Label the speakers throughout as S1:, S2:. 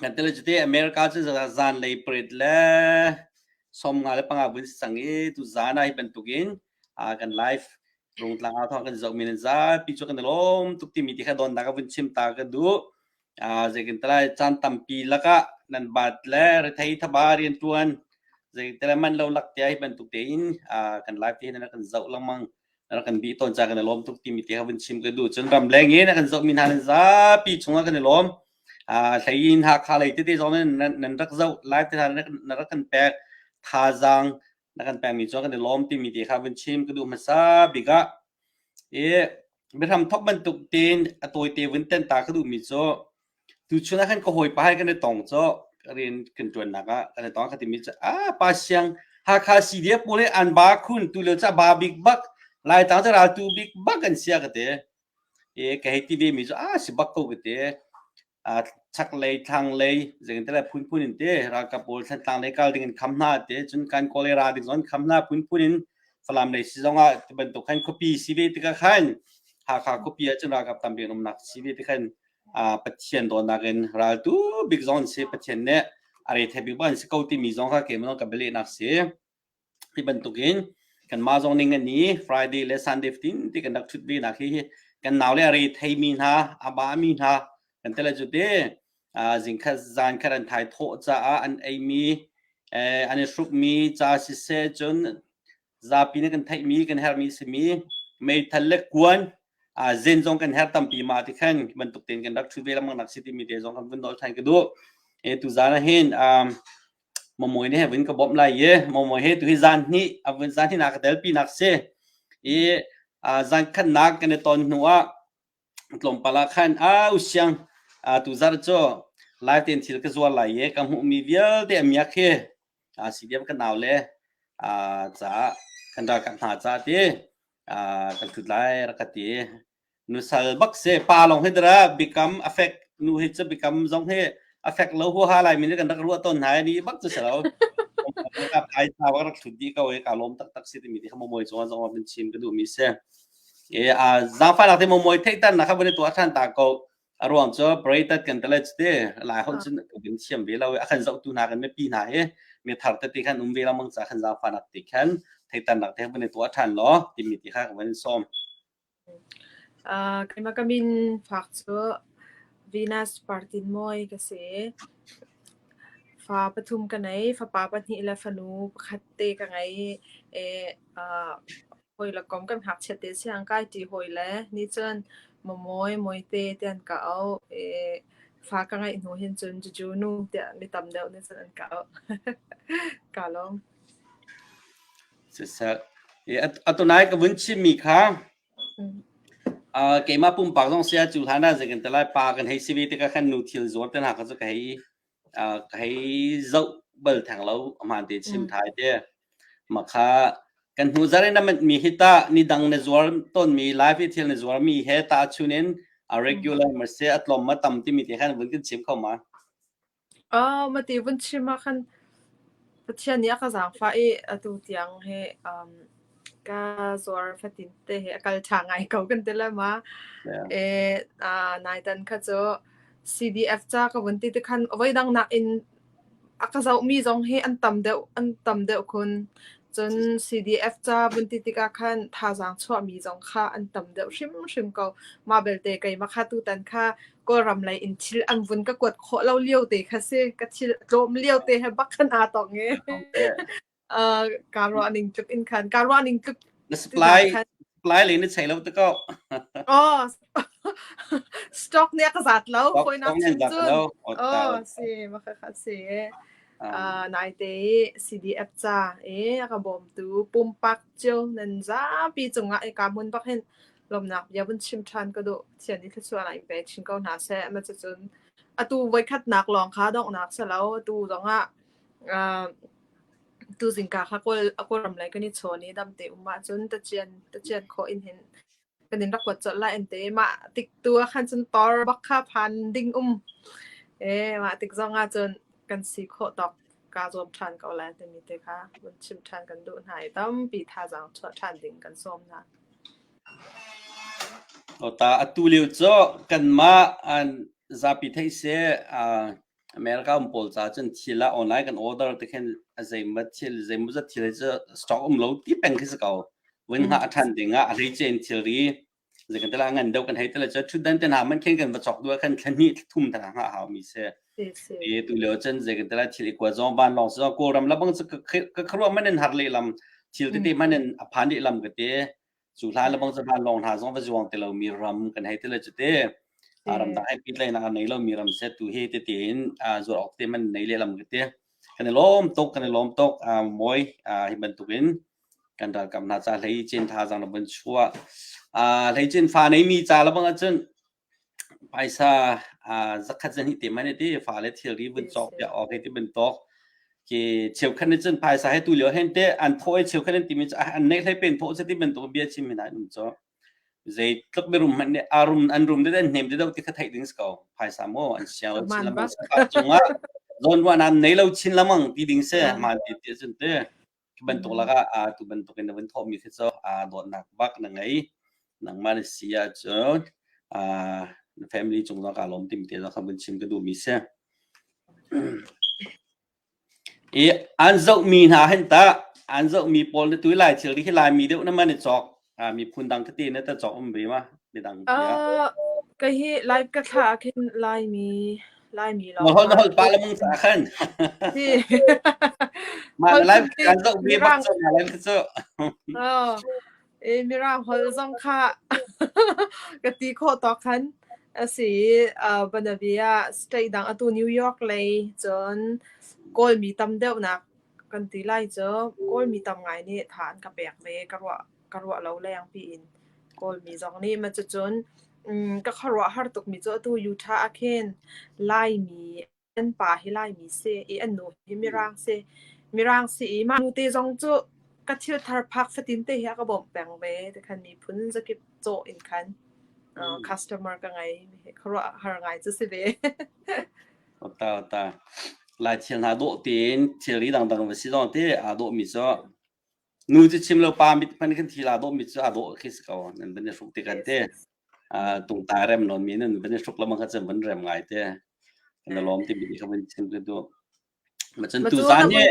S1: Kan tele cute America cu zanlei parade le sawmnga le panga vun si cang i tu zan ah hi bantukin aa kan live rungtlang ah thawng kan zoh men in zapi cu kan i lawm tuk timi ti kha dawnnak ah vun chim ta ka duh. Ah zeitintilai caan tampi lakah nan baat le rethei thaba rianṭuan zeitele manh lo lak tiah hi bantuk tein ah kan live ti hi nan rak kan zoh lengmang. rak kan bih tawn ca kan i lawm tuk timi ti ka vun chim ka duh cun ramleng i na kan zohmi hna nan zapi chungah kan i lawm hlei in hakha lei tete zong nan rak zoh lai te na rak kan pek thazaang na kan pekmi cu kan i lawm timi ti kha vun chim ka duh hmasa bik ah i biahram thok bantuk tin a tawite vun ten ta ka duhmi cu Tuchun ah khan ka hawipa he kan i tong cawk rian kan ṭuannak ah kan i tong ka timi cu a pa siang Hakha CDF pawl nih an ba khun tu lio cah ba bik bak Laitlang cu raltu bik bak an si a ka ti i ka hei ti vemi cu a si bak ko ka ti a chaklei thlanglei zeitintiah phunphun in ti ralkap pawl thlantlang lei kal ding in kham hna ti cun kan kawl i ra ding zawn kham hna phunphun in Falam lei si zong ah tibantuk khan khuapi si ve tikah khan Hakha khuapi ah cun ralkap tam bik an umnak si ve tikhan Pathian dawtnak in raltu bik zong an si. Pathian nih a rethei bik bang an si ko timi zong kha keimah ka bialehnak si. Hi bantukin kanmah zong ning ani Friday le Sunday tin ti kan rak thut ve nak hi kan nau le a re thei mi hna a ba mi hna kan tele cu te zing khat zan khat an thai thaw ca an ei mi an i hruk mi ca si se cun zapi nih kan theihmi kan herhmi simi meithal le kuan uh, zen zong kan her tampi ma ti khan bantuk tein kan rak thu ve lamang nak si timi te zong kan vun dol than ka du e tu zana hin um momoi ne vin ka bom lai ye momoi he tu hi zan ni avun zan hi na ka tel pi nak se e zan khan nak kan ton hnu a Tlawmpal ah khan au siang tu zar cu lai tein thil ka zuar lai i ka hmuhmi vialte a miak hi a si diam ka nau le caah kan ralkap hna caah ti kan tlut lai rak ka ti. Nusal bak si pa lawng hi dara biakam a fek nu hi cu biakam zong hi a fek lo huaha lai min kan rak ruah tawn hna ni bak cu si lo. Ralkap ai tau rak hrut dih ko i ka lawm taktak si timi ti kha momawi cungah zong min chim ka duhmi si. zaangfahnak te mumui theihternak kha voin i tuah ṭhan ta ko. A ruang cu Baratat kan telec te lai holh cun kan thiam ve lo i a kan zohtu hna kan mipi hna hi mi thar tete khan um ve lo mang ca khan zaangfahnak te khan theihternak te voin i tuah ṭhan law timi ti kha voin i sawm. Keima kamin fak cu Venus partin moi ka si. Fa pathum ka nei, fa pa pahnih le fanu pakhat te ka ngei. E, uh, hawi le kom kan hngakchiat te si ang kai ti hawi le ni cun Mamawi Mawite te an ka auh i fa ka ngeih hnu hin cun Juju nu tiah mi tam deuh nih cun an ka auh ka lawm siseh atunai ka vun chimmi kha keimah pumpak zong saya cu hlan ah zeikan te lai pa kan hei si ve tikah khan nu thil zuar te hna kha cu ka hei Hei zoh bal theng lo ahmaan te chim thai te. Mah kha kan hnu zarh in a mitmi hi tah nidang na zuar tawnmi live i thil na zuarmi he tahchun in a regular mase a tlawm a tam timi te khan vun kan chim kho ma? Oh, mati vun chim ah khan Pathian nih a ka zaangfah i atu tiang hi um Ka zuar fatin te hi a kal ṭha ngai ko kan ti le ma. Yeah. Eh, ah, nai tan kha cu CDF ca ka vun ti tikhan voi dang nakin a ka zohmi zong hi an tam deuh an tam deuh kun. Cun CDF ca vun ti tikah khan thazaang chuahmi zong kha an tam deuh hrimhrim ko. Mah belte keimah kha tutan kha Kawlram lei in thil an vun ka kuat khawh lo lio te kha si. Ka thil tlawm lio te he bak khan aa tong i. Okay. uh, kaa ruah ning tluk in khan kaa ruah ning tluk Na supply supply le na chei lo te ko. Oh, stock nih ka zat lo. Stock Hoi nak stock nih zat lo. Oh, si, maka kha si. Ah. Uh, nai te CDF cha e aka bom tu pumpak chiu nan za pi chunga e ka mun bak hin lomnak ya bun chim than ka do thian ni thluwa lai pe chin ko na se ma cha chun atu voi khat nak long kha dong nak se lo tu zonga uh, tuzing ka khual a kawram lai kan i chawn i dam te um ahcun tacian tacian khawh in hin kan in rak kuat colh lai an ti mah tik tu ah khan cun tor bak kha phan ding um e mah tik zong ah cun kan si khawh tawk ka zuam ṭhan ko lai timi te kha vun chim ṭhan kan duh hna i tampi thazaang chuah ṭhan ding kan sawm hna o ta atu lio cu kanmah an zapi thei se America um pawl ca cun thil ah online kan order te khin zeimat thil zeimaw zat thil cu stock um lo ti peng khi si ko wen ha a than ding ah a ri chen thil ri zei kan tala ngan deuh kan hei tala cu thut dan ten ha man khen kan va chok dua khan thlanhi thum thang ha hau mi se e tu leo chen zei kan tala thil ikwa zong ban long so ko ram la bang ka khrua manen har le lam thil te te manen aphan le lam ka te cu hlai le bang ca van lawng hna zong va zuang ti lomi ram kan hei ti le cuti a ram dang ai pitlainak a nei lomi ram se tu hi ti ti in zuar awk te man nei lehlam ka ti kan i lawm tuk kan i lawm tuk mawi hi bantuk in kan ralkap hna ca hlei cin tha zang la ban chua hlei cin fa nei mi ca la bang ahcun Phaisa aa zakhat zahnih te man hi ti fale thilri vun cawk piak awk hi ti bantuk. Ki cheukhat nih cun phaisa he tu lio hen te an thawh i cheukhat an timi cu an neih hlei pen thawh cu ti bantuk bia chim men ai um cu. Zei tluk mirum hmanh nih a rum an rum dede hnem dede ti kha theih ding si ko. Phaisa maw an siau chin lamang sakah cungah zawn ruahnak nei lo chin lamang ti ding si. Man ti ti cun ti. Khi bantuk lakah ah tu bantuk in na vun thawhmi khi cu dawtnak bak na ngei. Nangmah na si ahcun na family cung zong kaa lawm tim te zong kha vun chim ka duhmi si. I an zohmi hna hin tah an zohmi pawl na tui lai thil hi Laimi deuh na man i cawk Ah, miphun dang ka ti na ta chok um ve ma midang tiah. ka hi live ka thla ah khin laimi laimi Na lawng hol na hol pa la mung sa khan. si Ma live kan zo bi ba so na live so. oh e mirang hol zong kha ka ti kho to khan asi uh, banavia state dang atu new york lei cun kawl mi tam deuh nak kan ti lai cu Kawlmi tam ngai nih tha an ka pek ve ka ruah ka ruah lo leng piin Kawlmi zong nih ma cucun um, ka khuaruah har tukmi cu atu Utah ah khin Laimi an pa hi Laimi si i an nu hi Mirang si Mirang si i mah nu te zong cu ka thil thar phak fatin te hi a ka bawmh peng ve te khan miphun zakip caw in khan uh, customer ka ngei khuaruah har ngai cu si ve lai thil hna dawh tein thilri dangdang va si zong te aa dawhmi cu nu cu chim lo pa mit hman kan thil aa dawhmi cu aa dawh khi si ko nan van i hruk te kan te tung tai rem lon mi nan van i hruk lama kha chan van rem ngai te na lom te mi kha van chim tu tu ma chun tu za ne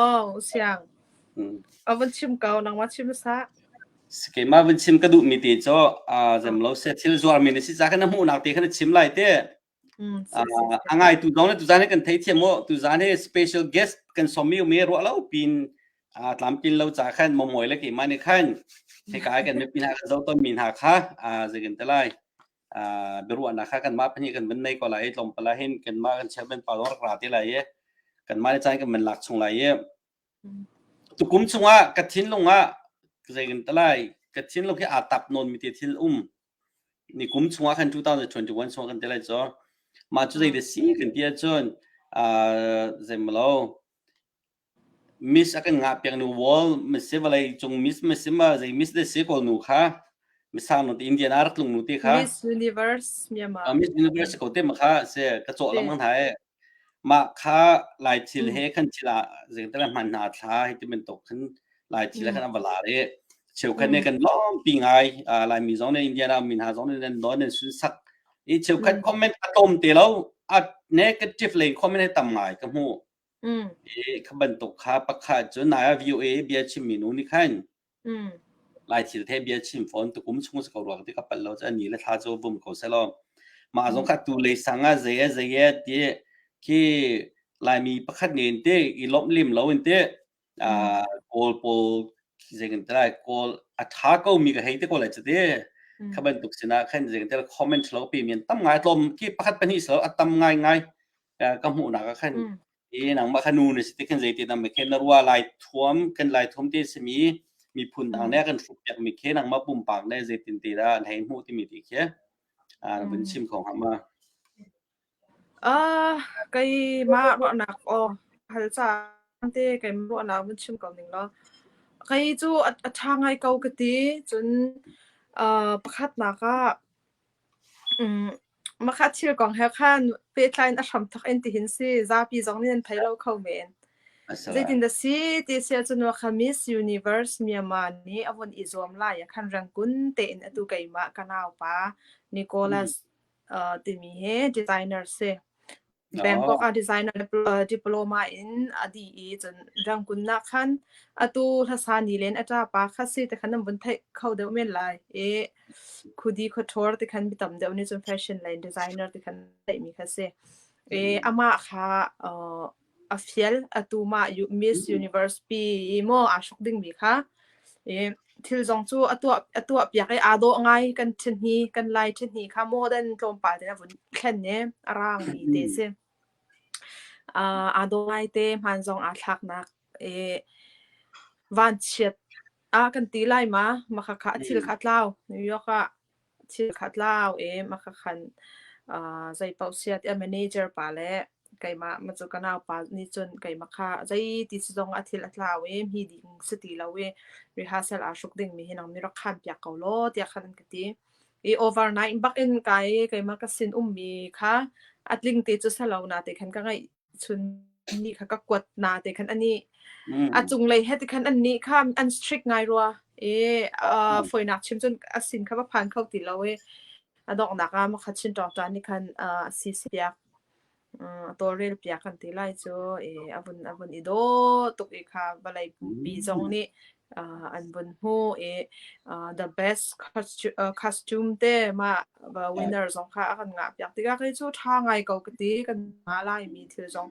S1: oh siang a van chim ko nang ma chim sa ke ma van chim ka du mi te cho a zem lo se thil zuar mi ne si za kana mu nak te khana chim lai te A ngaitu dong le tuzaan he kan theithiam maw tuzaan he special guest kan somi me ruah lo pin tlamtlin lo ca khan momoy le keimah ni khan hika kan me pin ha kan zo ton mi hna kha zeikan te lai biruah na kha kan ma phani kan ban nei ko lai tlom pala hin kan ma kan chairman pa dong ra te lai kan ma ne chan kan man lak chung lai tukum chunga ka thin lunga zeikan te lai ka thin lung hi atap non mi te thil um Nikum chungah khan 2021 chungah kan tel lai caw mah cu zei de si kan ti ahcun uh, zeimalo miss a kan ngah piak nu wall masi valai cung miss masi ma zei miss de si ko nu kha misang no te indian ar tlung nu te kha miss universe myanmar miss universe ko te ma kha se ka chaw lam kan hai Mah kha Laithil he khan thil ah zeicahtiah hman hna a thla hi ti bantuk khan Laithil he khan a va lar i cheukhat nih kan lawmpi ngai Laimi zong nih Indiana mi hna zong nih nan nawl nan sunsak i cheukhat comment a tlawm te lo a negative lei comment he tam ngai ka hmuh i kha bantuk kha pakhat cu Naya VOA bia chimmi nu nih khan Lai thil thei bia chim fawn tukum chung se ko ruak ti ka palh lo cha ni le thla cho bum ko se lo mah zong kha tu le sang a zei a zei a ti khi laimi pakhat ne in te i lomh lim lo in te kawl pawl zei kan trai kawl a tha ko mi ka hei te ko lai cha te kha bantuk sinah khan zei kan trai comment lo pi men tam ngai tlom ki pakhat pani so a tam ngai ngai ka hmuh nak a khan i nangmah kha nu na si ti khan zeitin dah mikhe na rua lai thuam kan lai thuam ti simi miphun dang ne kan hruk piak mi khe nangmah pumpak ne zeitin ti dah an hei hmu timi ti khe ah na vun chim kho hnga ma Ah, kai ma ruahnak o hal caan te kai ruahnak mun chim ko ning lo. Kai cu a a tha ngai ko ka ti. Cun ah pakhat nak ah Mah kha thil kong he khan pehtlai in a hram thawk in tihin si. Zapi zong nih an thei lo kho men. Zeitin dah si ti si ahcun wa kha Miss Universe Myanmar nih a vun i zuam lai ah khan rangkun tein atu keimah ka naupa Nicholas timi hi designer si. Bangkok Oh. a designer le uh, diploma in a dih i cun rang kun nak khan atu hlasa ni len a ṭa pa kha si te khan an vun theih kho deuh men lai i khudi khuaṭhawr te khan mi tam deuh nih cun fashion le designer te khan theih mi kha si. I Mhm. amah kha uh, a fial atu mah u Miss Universe pi i maw aa hruk ding mi kha i thil zong cu a tuah a tuahpiak i aa dawh ngai kan ṭhen hi kan lai ṭhen hi kha modern tlawmpal te a vun thlen ne a raang mi te si uh, aa dawh ngai te hman zong aa thlaknak e vanchiat a kan ti lai ma makhakha a thil kha tlau new york ah Thil kha tlau em a ka khan. Ah, zeipaoh siat i a manager pa le keimah ma cu ka naupa nih cun keimah kha zeiti si zong a thil a tlau i hmi ding si ti lo i rehearsal aa hruk dingmi hi nang nih rak khaanpiak ko law tiah khan an ka ti. I overnight bak in kai keimah ka sinummi kha a tling ti cu si lo na te khan ka ngaih chunni kha ka kuat na te khan ani a mm cunglei he te khan annih kha an strict ngai rua i uh, mm foinak chim cun asin kha va phan kho ti lo i adoknak ah makha chin tawng tan ni khan uh, si siak uh, tawlrel piak kan ti lai cu i avun avun i do tuk i kha valei pumpi zong nih uh, an bun hmu i uh, the best costume te ma winner zong kha a kan nga piak tika kai chu tha ngai ko ti kan nga lai mi thil zong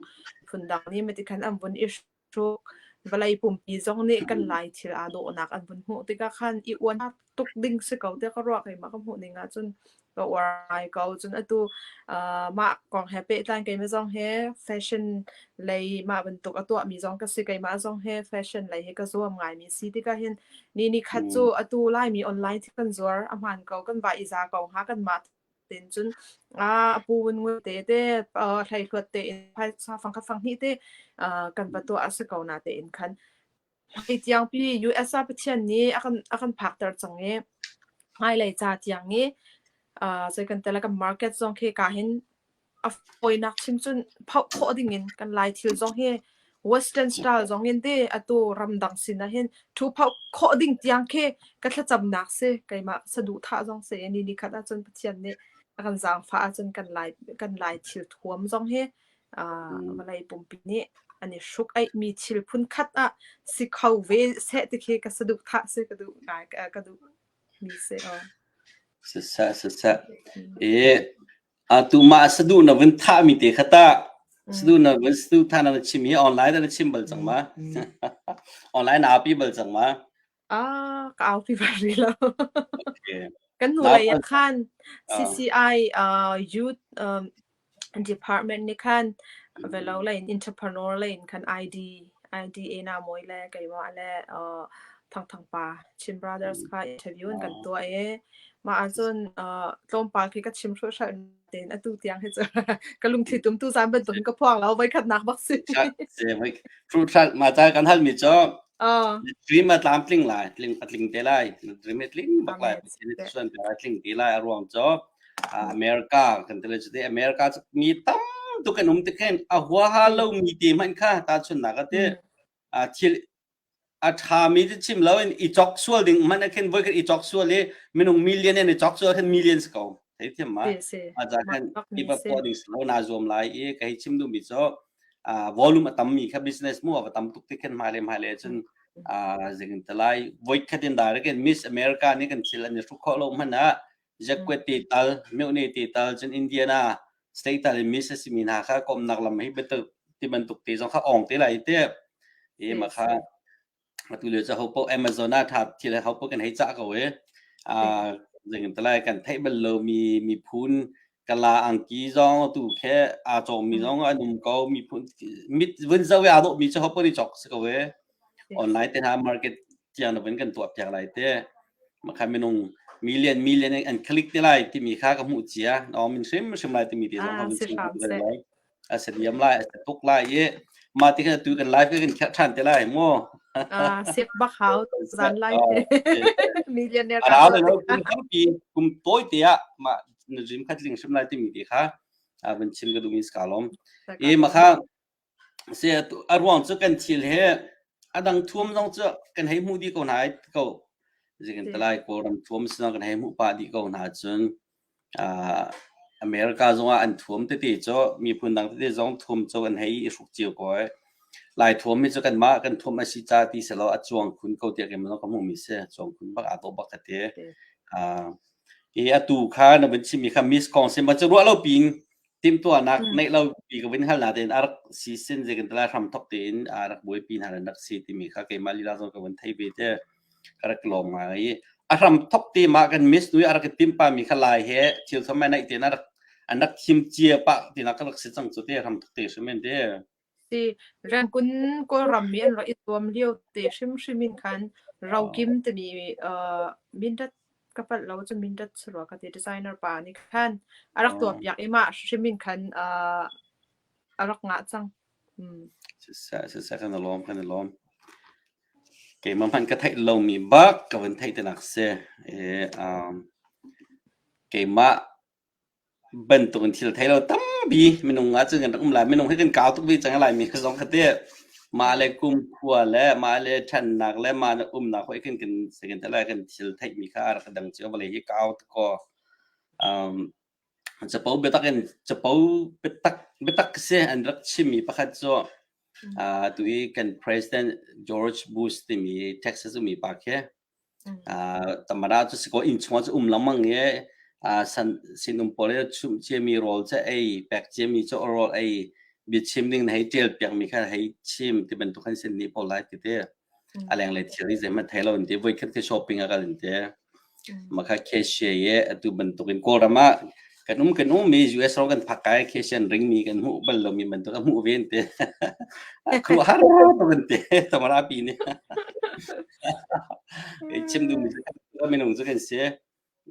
S1: phun dang ni me ti khan an bun ishu valai pumpi zong nih kan lai thil a do nak an bun hmu tika khan i uan tuk ding si ko tiah ka ruah kai mah ka hmuh ning ahcun ka uar ko cun atu uh, mah kong he pehtlai keima zong he fashion lei mah bantuk a tuah mi zong ka si keima zong he fashion lei he ka zuam ngai mi si tika hin ni ni khat cu mm. atu lai mi online thi kan zuar a hman ko kan va iza ko ha kan ma tin cun a pu wun ngu te te thlai hluat te in phai sa fang kha fang hi te kan patua a si ko na te in khan Hi tiang pi US ah Pathian nih a kan a kan phakter cang i hmailei ca tiang i uh, zei kan tel kan market zong khi ka hin a fawinak chim cun phoh khawh ding in kan lai thil zong hi Western style zong in de atu ramdang sin ah hin thu phoh khawh ding tiang khi ka thlacamnak si keimah saduhthah zong si ni ni khat ahcun Pathian nih a kan zaangfah ahcun kan lai kan lai thil thuam zong hi mm. vawlei pumpi nih an i hruk aihmi thil phunkhat ah si kho ve seh ti khi ka saduh tha si ka duh ngai ka duh mi se o sasa sasa e atu ma sadu na vin tha mi te khata sadu na vin sadu tha na chim hi online da na chim bal chang ma online na pi bal chang ma Ah, ka aupi bal rih lo. Okay. Kan hnulei ah Naupan khan ah. CCI, ah, Youth, um, Department nih khan velo Mhm. lei in entrepreneur lei in khan ID IDA na mawi le keimah le, uh, Thangthang pa Chin Brothers Mhm. kha interview in kan Ah. tuah i, mah ahcun, uh, tlawmpal khi ka chim hruhruh ten atu tiang he cu ka lungthi tum tu san ban tung ka phuang lo vai khat nak bak si se mai fruit thlat ma ta kan hal mi cho a dream a tlam tling lai tling a tling te lai dream a tling bak lai suan pe a tling te lai a ruang cho america kan tele chu te america chu mi tam tu kan um te khen a hua ha lo mi te man kha ta chun na ka te a thil a ṭhami cu chim loin i cawk sual ding man khin voikhat i cawk sual i minung million in i cawk sual khin millions ko thei thiam ma a za khan i va puah ding lo na zuam lai i ka hei chim duhmi cu volume a tammi kha business mu a tam tuk ti khin hmai le hmai le cun zing talai voikhat in direct in Miss America nih kan thil an i hruk khawh lo hmanh ah Ziakuat te tal, meuhne te tal, cun Indiana state tal in miss a simi hna kha komnak lam hi bantuk ti bantuk te zong kha ong te lai te e ma kha atu lio ca hopo Amazon ah tha thil he hopo kan hei cah ko e a zingin talai kan thei bal lo mi mi phun kala angki zong tu khe a chawmi zong an um ko mi phun mit vun zau ya dawh mi cu hopo ni chok si ko e online te hna market tiang loin kan tuah piak lai te makha minung million million an click te lai timi kha ka hmuh cia no min hrim hrim lai timi te zong ha chin lai aset yam lai aset tuk lai i ma ti kan tu kan live kan khat than te lai mo a sep ba hau to zan lai millionaire ka ala lo kum tam pi kum toy te ya ma jim khat ling hrim lai timi te kha a ban chin ga dum is kalom e ma kha A ruang cu kan thil hi a dang thuam zong cu kan hei hmuh dih ko hna ko. Zikin talai Kawlram thuam si zong kan hei hmuh pah dih ko hna cun America zongah an thuam tete cu miphun dang tete zong thuam cu an hei i hruk cio ko ai. Lai thuam hi cu kanmah kan thuam a si ca ti sehlaw a cuang khun ko tiah kan ka hmuhmi si. A cuang khun bak, aa dawh bak ka ti. Hi atu kha na vun chimmi kha Miss Kong si ma cu ruah lo piin Timhtuahnak neih lo pi ka vun hal natein a rak si sin zekin tala hramthok tein a rak buaipi hna an rak si timi kha keimah lila zawn ka vun thei ve te ka rak lawm ngai i a hramthok te ma kan miss nui a rak i timpa mi kha lai he thil thawm ai naih tein a rak an rak thim cia pah tinak ka rak si cang cu te hramthok te hrim men te Si, Rangoon Kawlram mi an rak i zuam lio te hrimhrim in khan rokim timi uh, Mindat ka palh lo cun Mindat sarua ka ti designer pa nih khan a rak tuah piak i mah hrimhrim in khan uh, a rak ngah cang. Mm. Siseh, siseh, kan i lawm, kan i lawm. Keimah hman ka theih lomi bak ka van theih te nak si. E, um, keimah bantuk in thil thei lo tampi minung ahcun kan rak um lai. Minung hi kan kau tuk ve cang i Laimi zong kha teh mah le kumkhua le mah le ṭhannak le mah le umnak hoi khin kan sai kan tel lai kan thil theihmi kha a rak dang cio. Vawlei hi kau tuk kaw um capo biatak in capo biatak biatak si an rak chimmi pakhat cu uh, tu i kan President George Bush timi Texas umi pa khi Ah tamara cu sikaw inn chungah cu um lengmang i ah san sinum pawl i chumh ciami rawl cu ei pek ciami cu rawl ei biachim ding na hei ṭial piakmi kha hei chim ti bantuk khan sin nih pawl lai ti ti a leng le thilri zeihmanh thei lo in ti voikhat khi shopping ah kal in ti maka cashier i atu bantuk in kawlram ah kan um kan um mi US ro kan phak kai khi sian ring mi kan hmu bal lo mi bantuk a hmu ven te a khu har kan te tamara pi ni cái chim du mi minung zu kan se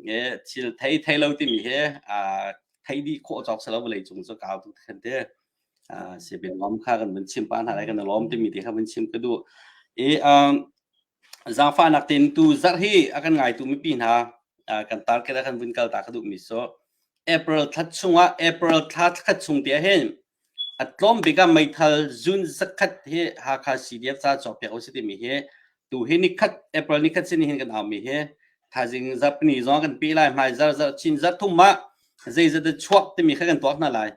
S1: nge thil thei thei lo ti mi he a thei di kho chok sa lo lei chung zu kaw tu khan te Ah, si bin lawm kha kan vun chim pa hna lai kan lawm timi ti kha vun chim ka duh. I, um, zaangfahnak tein tu zarh hi a kan ngaitu mipi hna, ah, kan target a kan vun kal ta ka duhmi cu April thla chungah April thla khat chung te hin a tlawm bik ah meithal June zakhat hi Hakha CDF ca cawk piak u si timi hi tuhi nikhat April nikhat sin hin kan aumi hi thazing Japanese zong kan pe lai hmai zar zar chin zar thum ma zeizat chuak timi kha kan tuak hna lai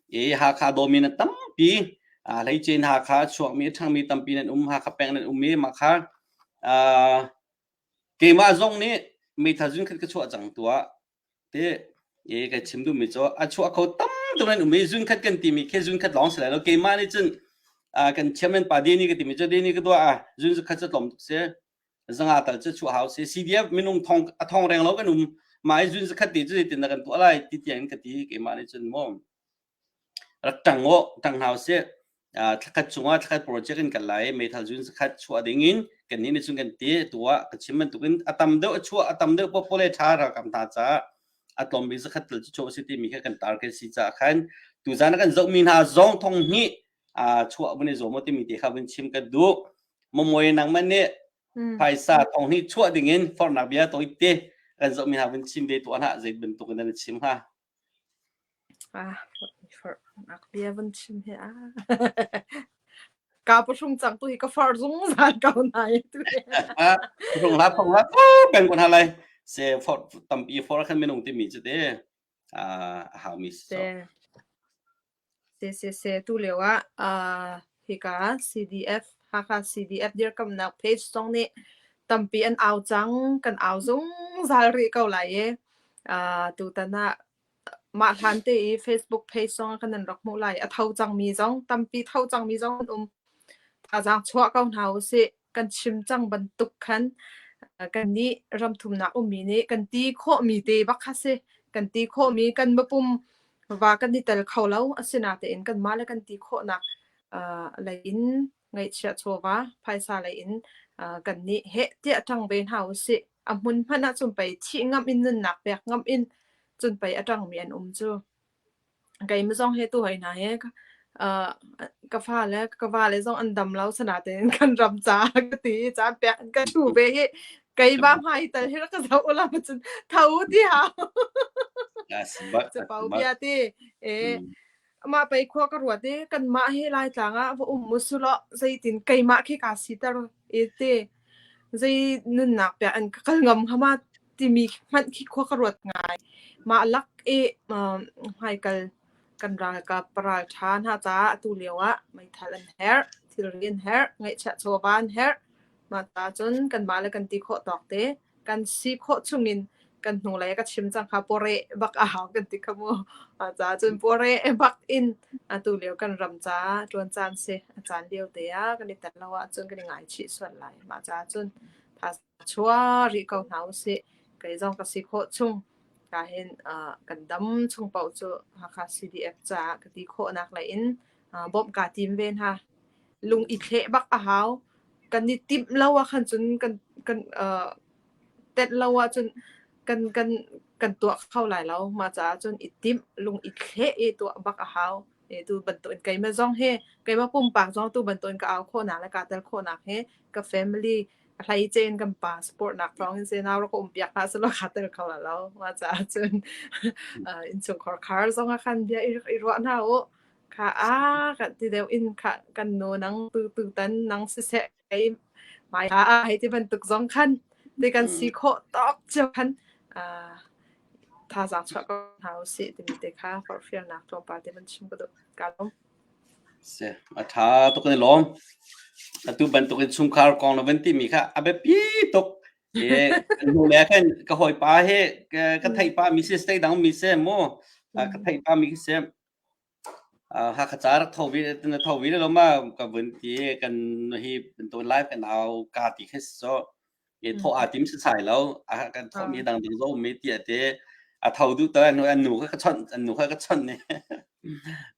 S1: e hakha domin tampi a lei chen hakha chuak mi thang mi tampi nan um hakha peng nan um mi ma kha a keima zong nih meithazun khat ka chuah cang tua te e ka chim duh mi cu a chuah kho tam tuk an um i zunkhat kan ti mi khi zunkhat lawng si lai lo keimah nih cun a kan chairman pa deni ka ti mi cu deni ka duah ah zun zu khat cu tlawm tuk si zanga tal cu chuah hau si CDF minung thong a thong reng lo kan um ma i zun zu khat ti cu zeitin dah kan tuah lai ti tiang in ka ti keimah nih cun mu rak ṭang u, ṭang hna usih. Ah, thlakhat chungah thlakhat project in kan lai i meithal zun sakhat chuah ding in kannih nih cun kan ti. Atu ah ka chim bantukin a tam deuh a chuah, a tam deuh popo le ṭha ralkap hna caah a tlawm bik zakhat tal cu chuah usih timi kha kan tar kan si caah khan tuzan a kan zohmi hna zong thong hnih ah chuah vun i zuam u timi te kha vun chim ka duh. Momoe nangmah nih Mm. phaisa thong hnih chuah ding in forhnak bia tawk i ti kan zohmi hna vun chim ve tuah hlah, zei bantukin nan i chim hnga. Nak bia van chim hi a. Ka pahrung cang tu hi ka far zungzal ko na i tu. Pahrung la phong la kan kun halai se for tampi for khan minung ti mi chu te a ha mi so. Sesese tulio ah hika CDF Hakha CDF dirkamhnak page zong nih tampi an au cang. Kan au zungzal rih ko lai i tutan ah mah hlan te i Facebook page zong ah kan nan rak hmuh lai. A tho cangmi zong tampi tho cangmi zong an um. Thazaang chuah ko hna u sih. kan chim cang bantuk khan kan nih ramthumnak ummi nih kan ti khawhmi te bak kha si kan ti khawhmi kan mapum va kan i tel kho lo asina tein kan mah le kan ti khawhnak lei in ngaihchia chawva phaisa lei in kan nih he tia tang ve hna usi a hmun hmana cun pei thi ngam in nunnak pek ngam in cun pei atang mi an um cu keimah zong hi tu hoi hna hi ka uh, ka fa le ka va le zong an dam lo sana tein kan ram ca ka ti i caan pe ka thu ve hi kei ba hmai tal hi ka zo ulam cun tho ti hau Yes, but che pau but bia ti e mm, ma pei khua ka ruat i kan mah hi lai tlang ah va um musulo zeitin keimah khi ka sitar i te zei nunnak pia an ka kal ngam hama timi hmanh khi khua ka ruat ngai. Mah lak i um, hmaikal kan ralkap paral ṭha hna caah atu lioah meithal an herh, thilri an herh, ngaihchiah chawva an herh. Mah ta cun kanmah le kan ti khawh tawk te. Kan si khawh chungin kan hnulei ka chim cang kha pore bak a hau kan ti kha mu. Caah cun pore bak in atu lio kan ram caah ṭuan caan si. A caan lio te ah kan i tel lo ahcun kan i ngaichih sual lai. Mah caah cun thazaang Chuah rih ko hna usih. Kei zong ka si khawh chung. Ka hin uh, kan dam chung paoh cu Hakha CDF caah ka ti khawhnak lei in uh, bawmh kaa tim ve hna. Lung i thleh bak a hau. Kan i timh lo ah khan cun kan kan uh, tet lo ah cun kan kan kan tuah kho lai lo. Mah caah cun i timh lung i thleh i tuah bak a hau. e tu bantukin keimah zong hi keimah pumpak zong tu bantukin ka au khawhnak le ka tel khawhnak hi ka family a hleicein kan pa support nak thawngin se nau rak um piak hna selo ka tel kho la lo ma ca cun inchungkhar khar zong a khan bia i ruah hna u ka a ka ti deuh in ka kan nu nang tu tu tan nang si se hei mai ha a hei ti bantuk zong khan ti kan si mm. khawh tok cio khan thazang chuak ko hna u si timi te kha forhfial nak tlawmpal te man chim ko do ka lom se a tha to kan lom atu bantuk in sungkhar kong lo ben ti mi kha abe pi tok e nu le khan ka hoi pa he ka thai pa mi se stay dang mi se mo ka thai pa mi se Hakha ca rak tho ve na tho ve lalo ma ka vun ti i kan nu hi bantukin lai kan au ka ti khi si sawh. I thawh aa tim setsai lo. A kan thawhmi hi dangdang zoh ummi tiah ti. A tho duh to an nu kha ka chawnh, an nu kha ka chawnh i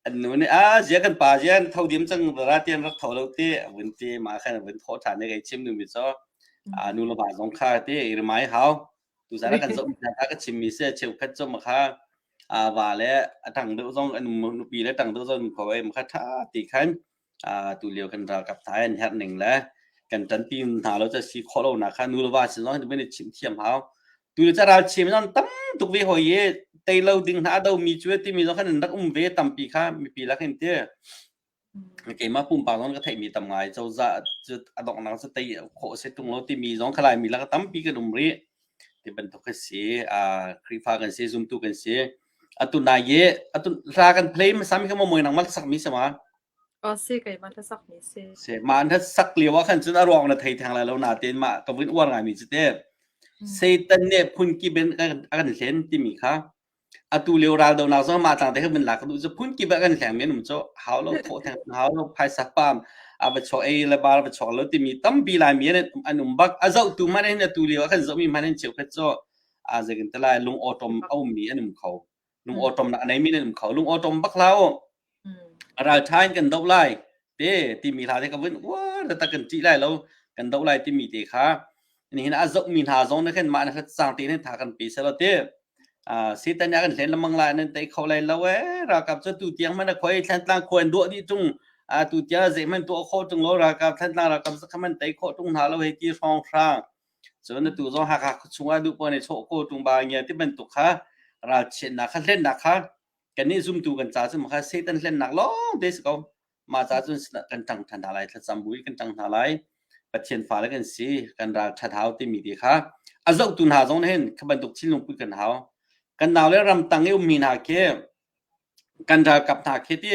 S1: an nu nih "a zia kan pa zia an tho diam cang ra tian rak tho lo ti." A vun ti. Mah khan a vun thawh ṭhan i kai chim duhmi cu nu le va zong kha ti i rimai hau. Tuzan kan zoh ka ka chimmi se cheukhat cu makha a wa le a tang deuh zong an um nupi le tang deuh zong kho ai makha tha ti khan tu lio kan ralkap thai an herh ning le kan tan pi hna lo cha si kho lo na kha nu le va sin zong ben chim thiam hau tu le cha ral chim zon tam tuk vi hoi ye tei lo ding na do mi chu ti mi zong khan rak um ve tam pi kha mi pi la khin te keimah pumpak zong ka theihmi tam ngai cozah cu a donghnak cu tei khawh a si tung lo timi zong kha Laimi lak ah tampi kan um rih. Ti bantuk khi si. Ah Khrihfa kan si, zumtu kan si. Atu nai i atu hla kan play hmasami kha momoin nangmah sakmi si ma? Oh si, keimah hlasakmi si. Si. Mah an sak lio ah khan cun a ruang na thei theng lai lo natein mah ka vun uar ngaimi cu teh Satan nih phun kip in a kan hlen timi kha Atu lio raldonak zong mah tlang te khan min la ka duh cu phunkip ah kan hleng men um cu hau lo thawh theng hau lo phaisa pam a va chuak ei le bar a va chuak lo timi tampi Laimi an an um bak a zohtu hmanh hin atu lio ah kan zohmi hmanh hin cheukhat cu aa zei kan ti lai lungawṭawm a ummi an um kho lungawṭawmnak a neimi nan um kho lungawṭawm bak hlah u A ralṭha in kan doh lai te timi hla te ka vun uar taktak kan ṭih lai lo kan doh lai timi te kha nihin a zohmi hna zong nih khin mah na hlatsang te nih tha kan pe selaw ti Satan a kan hlen lemang lai nan tei kho lai lo ee ralkap cu tu tiang man a khoi thlantlang khoi an duah dih chung tu tiang zei man tuah kho chung lo ralkap thlantlang ralkap zakha man tei kho chung hna lo hei ti hrawng hrang cun tu zong hakha chungah duh pone chho ko tung ba ngia ti bantuk kha ralchiatnak kha hlennak kha kan nih zumtu kan ca cu maka Satan hlennak lawng te si ko mah ca cun kan tang than hna lai thlacam bu kan tang hna lai Pathian fa le kan si kan ral that hau timi ti kha a zohtu hna zong hin kha bantuk thinlung pui kan hau kan nau le ram tang i ummi hna khi kan ralkap hna khi ti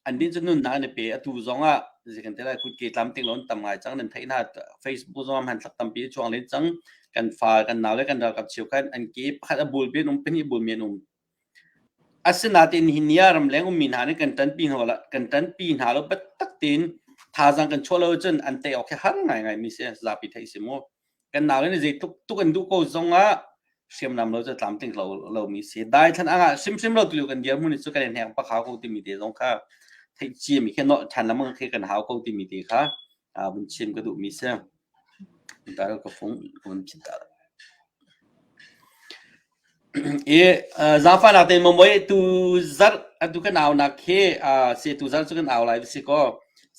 S1: an din cu nun hna an i pe atu zong ah zikan te lai kut ke tlam ting lon tam ngai cang nan thei hna facebook zong han thak tampi chuang len cang kan fa kan nau le kan ralkap chiu khan an ke pakhat a bul bin um peni bul men um Asinain hi ni ah ramleng ummi hna nih kan ṭanpi hna lo biatak tein thazaang kan chuah lo ahcun an tei awk hi har ngaingaimi si a zapi theih a si maw? Kan naule nih zeitluk an duh ko zongah hriamnam lo cu tlamtling lomi si. Daithlan ang ah hrimhrim lo tulio kan dirhmun cu kan i hnek bak hau ko timi te zong kha theih ciami khi nolh ṭhan lengmang khi kan hau ko timi te kha Aa vun chim ka duhmi si. Tar ka fung ka vun chim tar. I uh, zafa nak ten mamoi tu zar atu kan au nak khi uh, se tu zar chu kan au lai si ko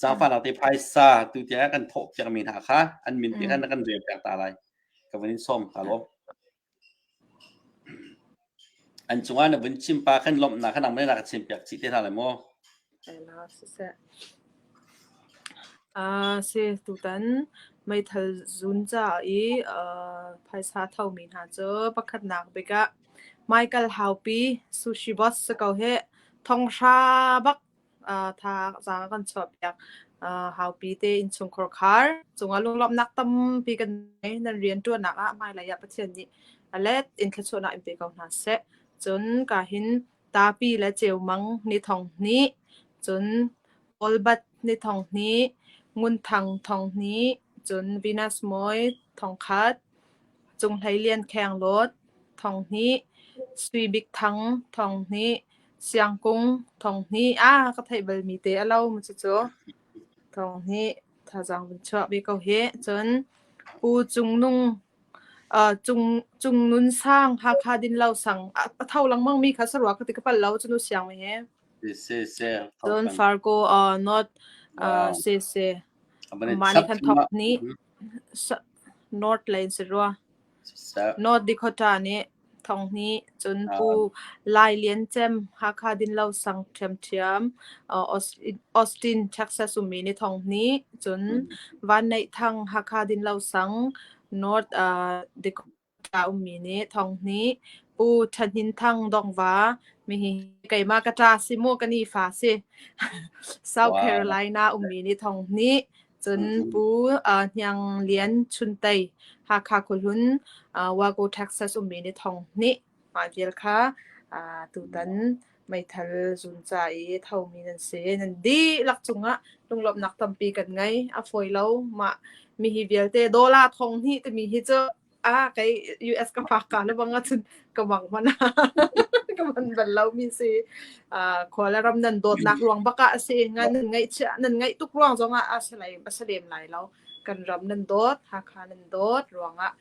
S1: zafa nak te phaisa tu tia kan thok piak mi hna kha an min ti kan kan re piak ta lai ka vun in som ka lo An cungah na vun chim pa khan lawmhnak kha nangmah nih na ka chimpiak chih te hna lai maw? Si tutan meithal zun caah i phaisa thomi hna cu pakhatnak bik ah Michael Haupi Sushi Boss si ko hih. Thong hra bak tha kan chuahpiak. haupi te innchungkhar khar cungah lunglawmhnak tampi kan ngei nan rianṭuannak ah hmailei ah Pathian nih a let in thluachuahnak in pe ko hna seh. Cun ka hin tapi le cheumang ni thong hni cun olbat ni thong hni ngunthang thong hni cun Venus mawi thong khat Cung Hlei Lian Kheng Lawt, Thong Hnih, Sui Bik Thang, Thong Hnih, Siang Kung, Thong Hnih, ah ka theih bal mi te a lo mu cucu. Thong Hnih, thazang vun chuah bi ko hi. Cun Pu Cung Nung, uh, Cung Cung Nun Sang, Hakha Din Lo Sang, a tho lengmang mi kha sarua ka ti ka pal lo cu nu siang mi hi. Se se. Cun Fargo uh, not uh, se se. Mani khan thok ni. North Lane si rua. North Dakota nih thonghni cun Pu Lai Lian Cem Hakha Dinlo Sang Ṭhiam Ṭhiam Austin Texas ummi ni thonghni cun Van Neih Thang Hakha Dinlo Sang North Dakota a ummi nih Thawng Hnih, Pu Ṭhanin Thang Dongva, mihi keimah ka ṭa si mu, ka nifa si. South Wow. Carolina ummi nih Thawng Hnih, cun Mhm. Pu uh, Hniang Lian Chun Tei, Hakha Khuhlun, uh, Waco, Texas ummi nih Thawng Hnih, mah vial kha uh, tutan meithal zun ca i thomi nan si. Nan dihlak cungah lunglawmhnak tampi kan ngei. A fawi lo. Mah mi hi vialte dollar thong hnih timi hi cu a kei US ka fak ka le bang cun ka bang hmana ka man bal lomi si uh, khuala ram nan dawtnak ruang baka asi ngan nan ngai chia nan ngai tuk ruang zongah a salai asalem lai lo kan ram nan dawt hakha nan dawt ruangah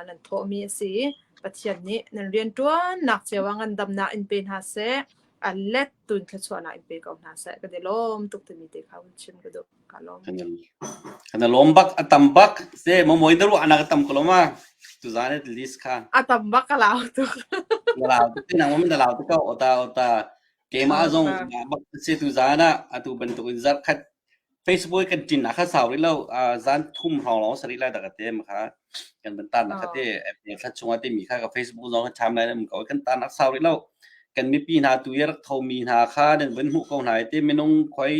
S1: nan thawhmi a si i Pathian nih nan rianṭuannak cio ah ngandamnak in pe hna seh, a lettuin thluachuahnak in pe ko hna seh. Kan i lawm tuk timi te kha hun chim ka duh. Ka lawm. Kana lawm bak a tam bak se momoin na ruah anak a tam ko loma tuzane list kha A tam bak ka lau tuk. na lau tuk nang mom na lau tuk ko ota ota keima zong bak se tuzana atu bantuk in zap khat Facebook kan ṭin ah khan sau rih lo. Aa zan thum hrawng lawng a si rih lai dah ka ti. Makha kan van taan ah kha ti thla chung ah timi kha ka Facebook zong kha cham lai nan ko. Kan taan ak sau rih lo. Kan mipi hna tu i rak thomi hna kha nan van hmuh ko hna i ti minung khoi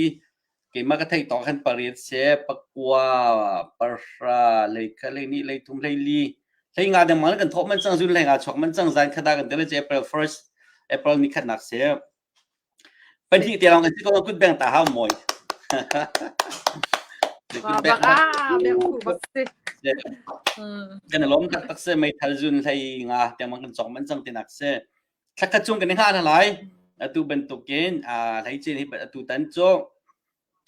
S1: keimah ka theih tawk khan pariat se pakua parhra leikha leini leithum leili hlei nga dengmang kan thawh man cang zun hlei nga chuak man cang zan khada kan tele je April first April ni khatnak se Pahnih te lawng a si ko, kut bengh ta hau mawi. Kan i lawm tak tak si, meithal zun hlei nga tiangmang kan cawk man cang tinak si. Thlakhat chung kan i ngah lalai. Atu bantukin hlei cin hi atu tan cu.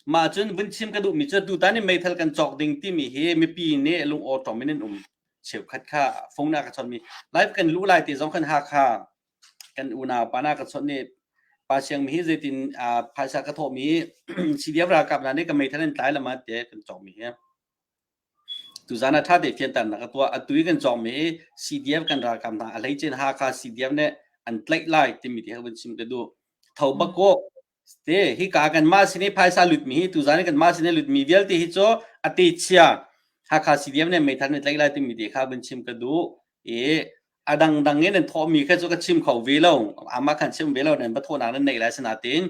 S1: Mah cun vun chim ka duhmi cu atu tan i meithal kan cawk ding timi hi mipi nih lungawṭawm in an um cheukhat kha. Fung na ka chawnmi. Live kan luh lai ti zong kan Hakha kan unau pa na ka chawnh ni pa siang mi hi zeitin phaisa ka thawh mi CDF ralkap hna nih ka meithan an tlai lama te kan cawng mi hi tuzan a tha te fian tan na ka tuah atui kan cawng mi CDF kan ralkap hna a hlei chen Hakha CDF ne an tlaih lai timi ti hun sim te du tho bako Ste hika kanmah sin i phaisa lutmi hi tuzan i kanmah sin i lutmi vialte hi cu a techia Hakha CDM nih meithan in tlaih lai timi te kha vun chim ka duh i a dangdang in nan thawhmi kha cu ka chim kho ve lo amah khan chim ve lo nan va thawhnak nan neih lai sinain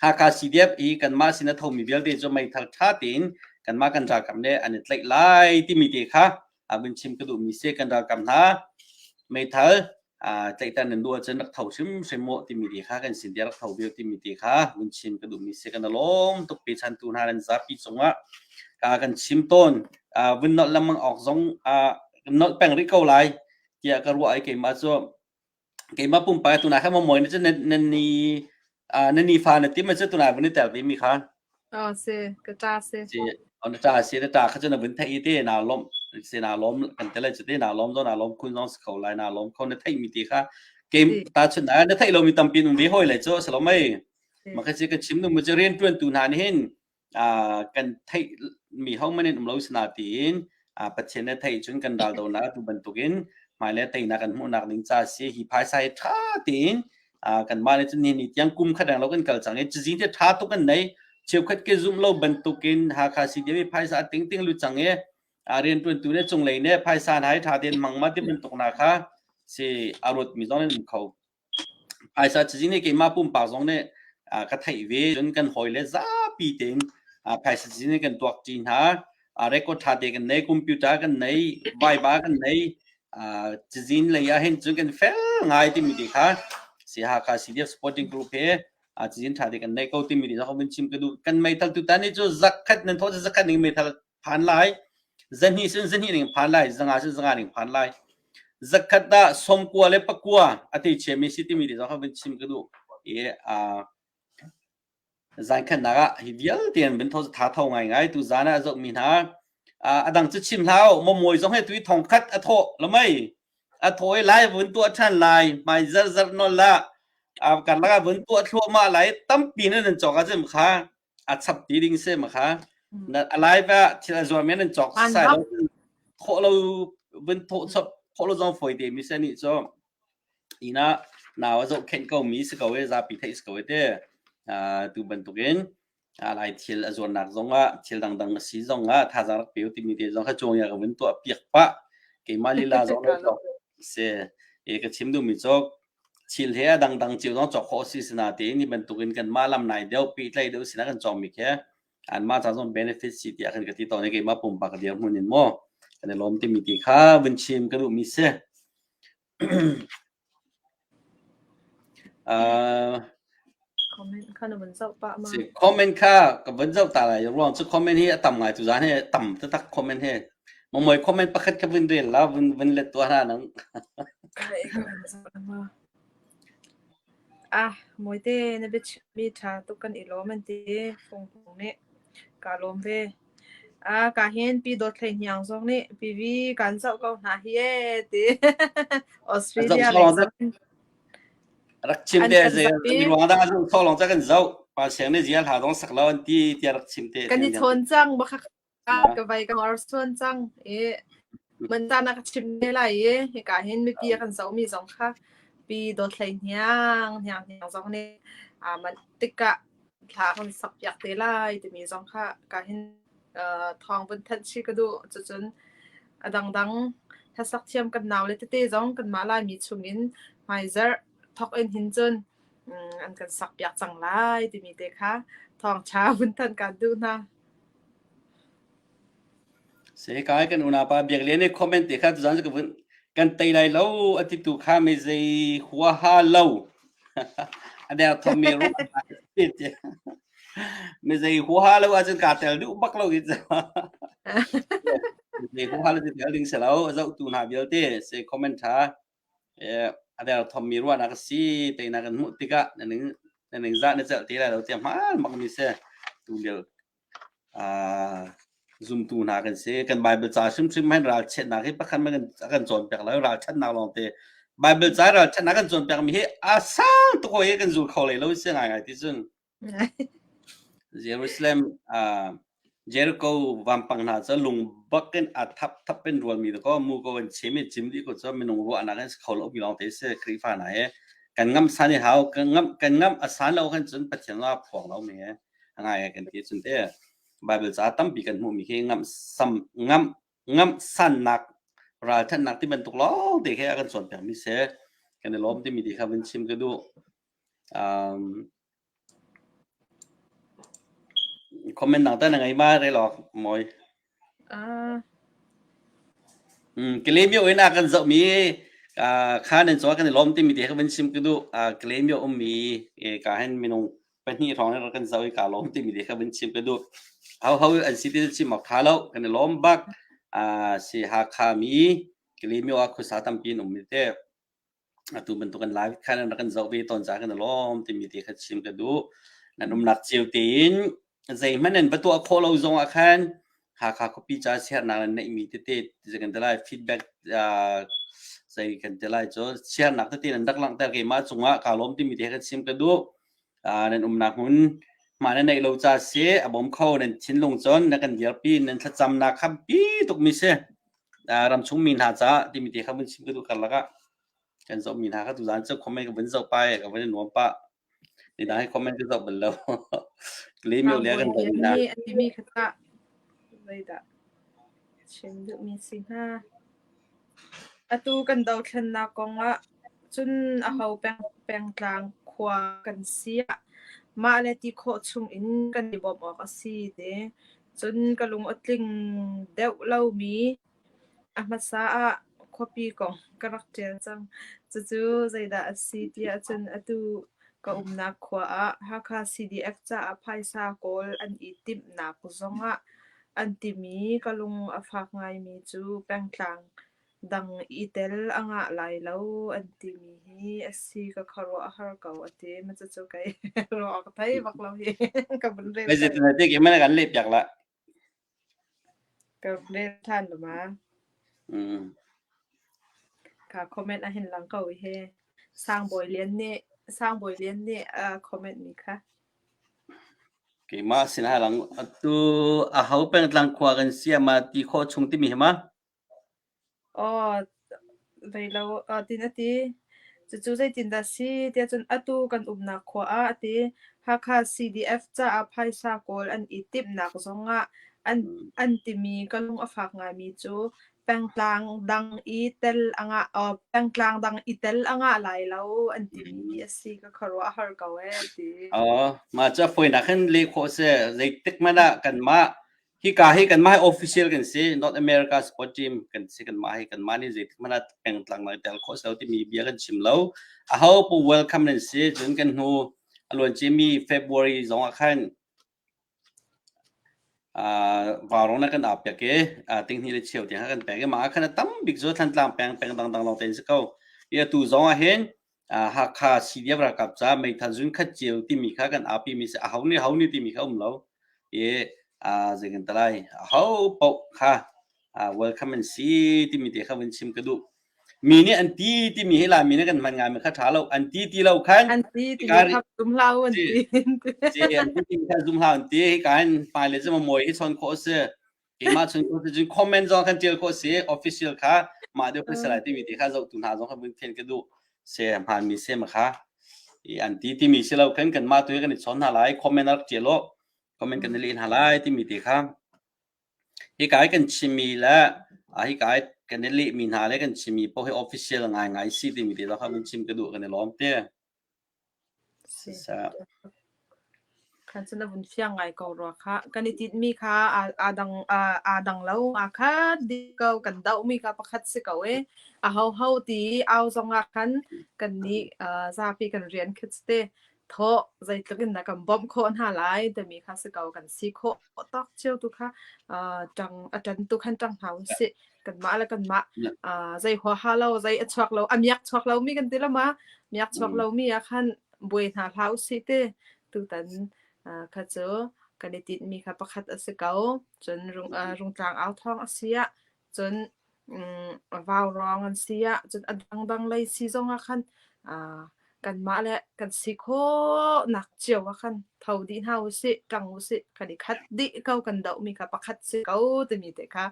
S1: Hakha CDM i kanmah sin a thomi vialte cu meithal ṭha tein kanmah kan ralkap nih an i tlaih lai timi te kha abin chim ka duhmi se kan ralkam hna meithal tlaihtan nan duh ahcun rak tho hrimhrim maw timi ti kha kan sin dia rak tho viu timi ti kha vun chim ka duhmi se kan lawm tuk pe chan tu hna nan zapi cungah ka kan chim tawn vun nolh lamang awk zong nolh peng rih ko lai tiah ka ruah ai keimah cu keimah pumpak tunah khan maw na cu na ni na nifa na tim cu tunah vun i tel vemi kha oh si ka ta si si on ta si na ta kha cu na vun thei te na lom si na lom kan tel cu te na lom zo na lom kun zong kho lai na lom kho na thei mi ti kha keim ta chun na na thei lo mi tampi nun ve hoi lai chu salomai ma kha chi kan chim nu mu cu rian tuan tu hna nih hin ah kan theih mi hohmanh in um lo si na tiin ah Pathian he theih cun kan raldonak atu bantukin hmailei teinak kan hmuhnak ding ca si hi phaisa hi ṭha tein ah kanmah le cun nihin ni tiang kum khat reng lo kan kal cang i cizin hi ṭha tuk an nei cheukhat ke zumh lo bantukin Hakha CDM i phaisa a ting ting lu cang i a rianṭuantu le cunglei nih phaisa hna hi ṭha tein mang ma ti bantuk na kha si a ruat mi zong in um kho Phaisa cazin i keimah pumpak zong nih ka theih ve cun kan hawile zapi tein phaisa cazin hi kan tuak ṭi hna. Record ṭha te kan nei, computer kan nei, vaiva kan nei. Cazin lei ahhin cun kan fel ngai timi te kha si-Hakha CDF Supporting Group he cazin ṭha te kan nei ko timi te kha hawmin chim ka duh. Kan meithal tutan hi cu zakhat nan thawh cu zakhat ning meithal phan lai zahnih cun zahnih ning phan lai zanga cun zanga ning phan lai zakhat dah somkua le pakua a te chiami si timi te zong kha vin chim ka duh i zan khatnak ah hi vialte an vin tha tho ngai ngai tu zan ah zok mi hna adang cu chim hlau momoy zong he tui thong khat a tho lamai a thawi lai vun tua than lai mai zar zar non la kan laka vun tua thluama lai tampi nan chok a chim kha a chap ti ding se ma kha na alaiva thil a zuar men nan chok sai lo kho lo vin tho chop kho lo zong foi te mi se ni cho ina nawa zo khen ko mi se ko e za pi thei se ko e te tu ban tukin alai thil a zuar nak zong a thil dang dang si zong a tha za pe ti mi te zong kha chuang ya ka vin to a piak pa ke ma lila zong na chok se e ka chim du mi chok Thil he a dangdang cio zong cawk khawh a si sinain hi bantukin kanmah lam nai deuh pehtlaih deuh sinah kan cawngmi khi anmah ca zong benefit si tiah kan ka ti tawn i keimah pumpak dirhmun in maw kan i lawm timi ti kha vun chim ka duhmi si. uh, Comment kha ka van zoh ta lai ruang cu comment hi a tam ngai tu zaan hi tam taktak comment hi mongmoi comment pakhat ka vun rel la vun vun let tua hna nang ah moite na biachimmi ṭha tuk kan i lawm an ti fungfung nih kaa lawm ve a ka hin pi dawt hlei hniang zong nih pivi kan zoh ko hna hi ee ti Australia lei zong rak chim te zei ruang da zung tho long cha kan zo pa seng ne zia hla dong sak lo an ti ti rak chim te kan i thon chang ba khak ka vai ka or suan chang e man ta na ka chim ne lai e he ka hin mi pi kan zo mi zong kha pi do thlai hniang hniang hniang zong ne a man tika thla kan sakpiak te lai timi zong kha ka hin uh, thawng vun thanh si ka duh cucun a dangdang hlasak thiam kan nau le tete zong kan ma lai mi chungin hmaizar thok in hin cun an kan sak piak cang lai timi te kha thawng tha vun tan kan duh na Sekai kan unaupa Biaklian nih comment te kha tuzan ka vun kan tei lai lo a ti tu kha mi zei huaha lo a der thom mi ru mi zei huaha lo ahcun kaa tel duh bak lo gitu mi zei huaha lo cu tel ding si lo a zohtu hna vialte se comment ṭha a derthawmmi ruahnak a si tei na kan hmuh tikah na ning na ningzah na celh ti lai lo tiah hmaan bakmi si tu lio uh, zumtu hna kan si kan Bible ca hrimhrim hen ralchannak hi pakhat ma kan a kan cawnpiak lo ralchannak lawng te Bible ca ralchannak kan cawnpiakmi hi a sang tuk hi kan zul kho lai lo si ngai ngai ti cun Jerusalem ah Jericho vampang hna cu lung bak in a thap thap in rualmi te ko mu ko in chim i chim dih ko cu minung ruahnak in kho lo mi lawng te si Khrihfa hna hi kan ngamh san i hau kan ngamh kan ngamh a san lo khan cun Pathian la phuang lo mi a ngai ai kan ti cun te Bible ca tampi kan hmuh mi khi ngamh sam ngamh ngamh sannak ralthatnak ti bantuk lawng te khi a kan cawnpiak mi si kan i lawm timi ti kha vun chim ka duh comment dang ta na ngei ma re law mawi Kalemio in a kan zoh mi kha nan cawa kan i lawm timi te kha van sim ka duh Kalemio um mi ka hen minung pahnih hrawng in kan zoh i ka lawm timi te kha van sim ka duh hau hau an si ti sim mak tha lo kan i lawm bak si Hakha mi Kalemio ah khuasa tampi in um mi te atu bantuk in live khan an rak kan zoh ve tawn caah kan i lawm timi te kha chim ka duh. An umnak cio tein zeihmanh an va tuah khawh lo zong ah khan Hakha khuapi ca siarnak in neihmi tete zei kan ti lai feedback uh, zei kan ti lai cu siarnak tete in an rak langhter ke mah cung ah kaa lawm timi te kha chim ka duh. nan umnak hmun mah na neih lo ca si a bawm kho nan thinlung cun na kan dirpi nan thlacamnak kha bi tukmi si ramchung mi hna ca timi te kha vun chim ka tu kar laka kan zoh mi hna kha tu zan cu comment ka vun zoh pa ka vun nuam pa ni dang he comment ka zoh bal lo kli mi le kan zoh na mi kata Laida Chin mi si hna Atu kan dothlennak kong ah cun aho pengtlang khua kan si ah mah le ti khawh chung in kan i bawmh awk a si te. Cun ka lung a tling deuh lomi a hmasa ah khuapi kong ka rak ṭial cang. Cucu zeidah a si tiah cun atu ka umnak khua ah Hakha CDF caah phaisa kawl an i timhnak zong ah An timi ka lung a fak ngaimi cu pengtlang dang i tel a ngah lai lo an timi hi a si ka khuaruah har ko a ti. Cucu kei ruah awk thei bak lo hi ka vun rel ṭhan. Zeitintiah keimah nih kan lehpiak lah. Ka rel ṭhan luma. Mm. Ka comment a hin lang ko hi. Sang Bawi Lian nih Sang Bawi Lian nih a comment mi kha. Keimah sin a lang. Atu aho pengtlang khua kan si ah mah ti khawh chung timi hi ma? Aw, zei lo, aa tin a ti. Cucu zeitindah si tiah cun atu kan umnak khua ah a ti. Hakha CDF caah phaisa kawl an i timhnak zong ah an, an timi ka lung a fak ngaimi cu pengtlang dang i tel a ngah uh, pengtlang dang i tel a ngah lai lo an timi a si ka khuaruah har ko e ti oh ma cha foi nak hin le kho se zei tik mana kan ma hi ka hi kan ma official kan si North America sport team kan si kan ma hi kan ma ni zei tik mana pengtlang na tel kho se ti mi bia kan chim lo a ho pu welcome nan si chun kan hnu aluan chi mi February zong a khan Varung na kan aa pek i tinghnih le cheu tiang kha kan pek i mah ah khan a tam bik cu Thlantlang peng peng dangdang lawng tein a si ko. I atu zong ahhin Hakha CDF ralkap caah meithal zunkhat cio timi kha kan aapimi a si. Aho nih aho nih timi kha a um lo. I zeicantiah lai ahopaoh kha welcome an si timi te kha vun chim ka duh. Mi nih an ti timi hi Lami nih kan hman ngaimi kha ṭha lo an ti ti lo khan an ti ti kha zum hlah u an ti si an ti ti kha zum hlah an ti hi kan pale cu mawi hi chawn khawh a si keimah chun khawh si cun comment zong kan tial khawh si official kha mah deuh khawih salai timi ti kha zohtu hna zong kha mun thien ka duh se hmanmi se ma kha i an ti timi si lo kan kan mah tu kan i chawn hna lai comment rak tial lo comment kan i leh hna lai timi ti kha Hika i kan chimmi le hika i kan i lehmi hna le kan chimmi poh hi official ngaingai si timi te zong kha vun chim ka duh kan i lawm te. Si. Sisah. Khan cun a vun fiang ngai ko rua kha. Kan i tinhmi kha aa, aa dang, aa, aa dang lo. Aa khat dih ko. Kan dohmi kha pakhat si ko ee. A ho ho ti i au zong ah khan kan nih uh, zapi kan rian khat te. Thawh, zeitluk in na kan bawmh khawh hna lai timi kha si ko. Kan si khawh tak cio tu kha uh, tang atan tu khan tang hna u si. Kanmah le kanmah uh, zei huaha lo, zei a chuak lo, a miak chuak lo mi kan ti lama, miak chuak lo mi a khan bui hna hla u si te. Tutan uh, kha cu kan i tit mi kha pakhat a si ko. Cun rung, uh, rung tlang au thong a sia. cun vaurawng an si ah cun a dangdang lei si zong ah khan kanmah le kan si khawhnak cio ah khan tho dih hna usih, tlang usih, kan i khat dih ko kan dohmi kha pakhat si ko timi te kha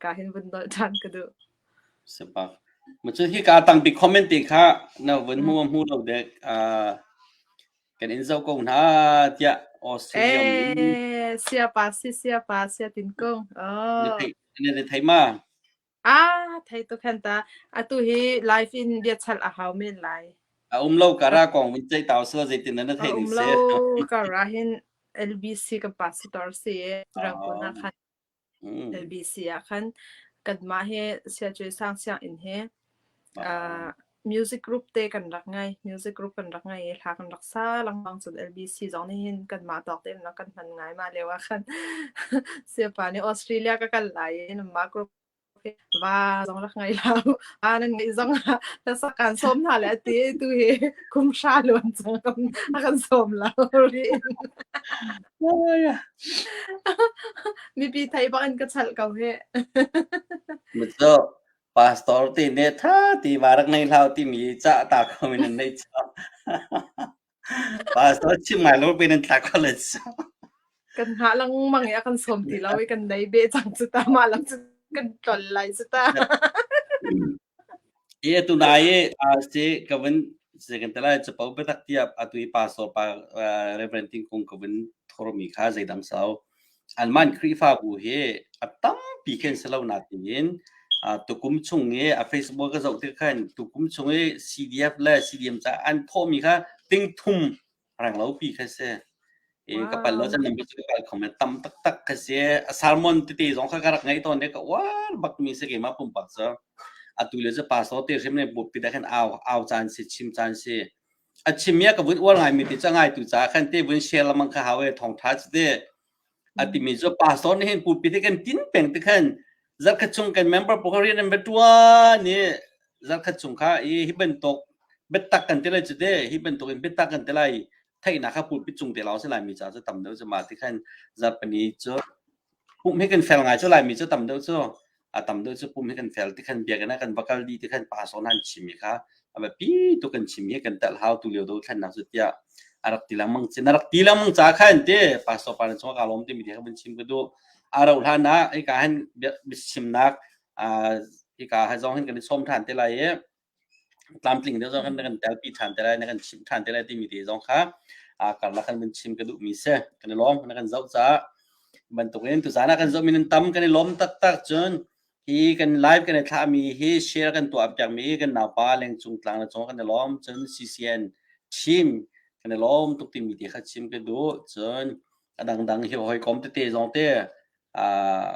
S1: ka hin vun dolh ṭhan ka duh. Sipa. Macun hi ka tangpi comment te kha na vun hmu hmu lo dek kan in zo ko hna tiah Australian. Eh, sia pa si sia pa sia tin kong. Oh. Ne na thei ma? Ah, thei tu khan ta. Atu hi live in bia chal a hau men lai. A um lo kara kong vun chai tau so zeitin na thei ni se. Um lo kara hin LBC ka pastor si Rangkona khan LBC a khan kan ma he sia chui sang siang in he Music group te kan rak ngai. Music group kan rak ngai i thla kan rak sa lengmang. Cun LBC zong nih hin kanmah tawk tein rak kan hman ngai. Mah lio ah khan siapa nih Australia ka kal lai i nanmah group hi va zong rak ngei hlah u. Va nan ngeih zong ah hlasa kan sawm hna le a ti i tu hi kum hra luan cang a kan sawm lo rih. Mipi thei bak in ka chalh ko hih. Mithuk. Pastor ti nih ṭha tiva rak ngei hlah u timi cah ta kho in an neih chap. Pastor chim ngai lo pin in tla kho le chap. kan hngah lengmang i a kan sawm ti lo i kan nei be cang cu ta ma lang cu kan tlol lai cu ta I tu na i a si ka vin se kan tala chapo betak tiap a tu i pastor pa Reverend Ting Kung ka vin thormi kha zeidang sau Anmah in Khrihfabu hi a tampi khi an si lo nain uh, tukum chung i a Facebook ka zoh tik khan tukum chung i CDF le CDM caah an thawhmi kha tingthum reng lopi kha si. I wow. ka pal lo chan nambi cu ka khom tam taktak ka si. A sermon tete zong kha ka rak ngei tawn ne ka wal bakmi si keima pumpak cu. Atu le cu pastor te hrim ne bupi da khan au au chan si chim chan si. a chimia ka vun uar ngaimi ti cangai tu caah khan te vun share lamang kha hau e thongtha ci te a timi cu pastor nih hin pupi te kan tin peng te khan zarkhat chung kan member pokarian an betua ni zarkhat chung kha i hi bantuk betak kan te lai cu te hi bantuk in betak kan te lai theina kha pupi chung te lao se lai mi ca cu tam deuh cu ma ti khan zapani cu Pum hi kan fel ngai cu Laimi cu tam deuh cu a tam deuh cu pum hi kan fel tikhan biakinn ah kan va kal dih tikhan pasawn ah an chim i kha a biapi tuk kan chim hi kan telh hau tu lio dothlennak cu tiah a rak ti lengmang cin a rak ti lengmang ca kha an ti pastor pa chung ka lawm timi ti kha kan chim ka duh a rauh hlan ah ika han biachimnak ika zong hin kan i sawm ṭhan te lai i tlamtling deuh zong kan kan tel pi ṭhan te lai, na kan chimh ṭhan te lai timi te zong kha a karlak kan vun chim ka duhmi si. Kan i lawm, na kan zoh caah. Bantukin tuzaan ah kan zohmi nan tam kan i lawm taktak cun hi kan live kan i thlahmi hi share kan tuah piakmi kan naupa Lengcung Tlang le cungah kan i lawm cun CCN team kan i lawm tuk timi te kha chim ka duh cun a dangdang hi hawikom tete zong te ah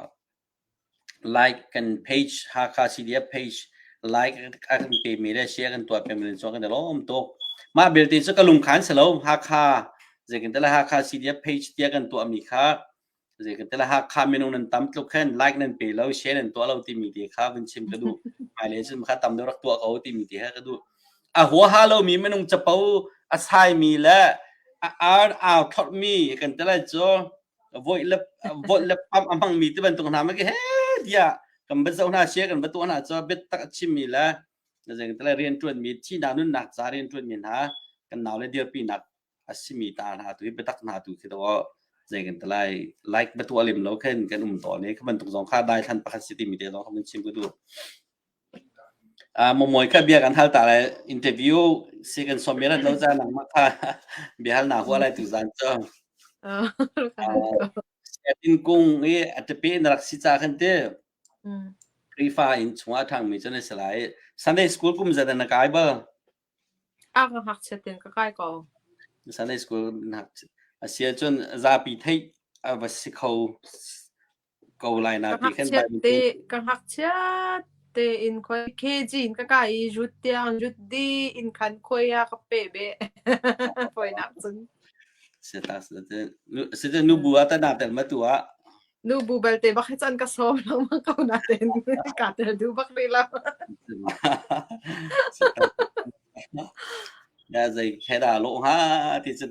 S1: Like kan page, Hakha CDF page, like a kan pemi le share kan tuah pengmi le cun kan i lawm tuk. Mah belte cu ka lungkhan si lo, Hakha, zeitintiah le Hakha CDF page tiah kan tuahmi kha zeitintiah le Hakha minung nan tam tluk khin like nan pe lo, share nan tuah lo timi te kha vun chim ka duh. Hmailei cun kha tam deuh rak tuah ko timi te kha ka duh. A huaha lomi minung capo a saimi le a ar aa thlawtmi kan ti le cu voih le voih le pump a hmang mi te bantuk hna ma ke he tiah kan bat zo hna sia kan bat tuah hna cho bit tak a chim mi le na zeng tala rian tuan mi thi na nun nak za rian tuan mi hna kan nau le dir pi nak a si mi ta hna tu betak hna tu khi do zeng kan tala like batu alim lo khen kan um to ne khaman tuk zong kha dai than pakhat si ti mi te zong khaman chim ku du Ah Momawi kha bia kan hal ta lai interview si kan sawm men an lo caan nangmah kha biahal naa hua lai tu zan cu. Sianginn kung i a tape na rak si ca kan ti. Khrihfa in chungah ṭhangmi cu na si lai. Sunday school kum zan na kai bal? A ka ngakchiat in ka kai ko. Sunday school na ngakchiat. A si ahcun zapi theih a va si kho ko lai na ka ti khan ngakchiat Bible te ka ngakchiat tein khoi KG in ka kai i rut tiang rut di in khan khoi a ka pe be foinak cun seta seta seta nu bu ata na tel ma tu a nu bu balte bak hi chan ka som lang ma ko na ten ka tel du bak ni la seta ya zai kheda lo ha ti chun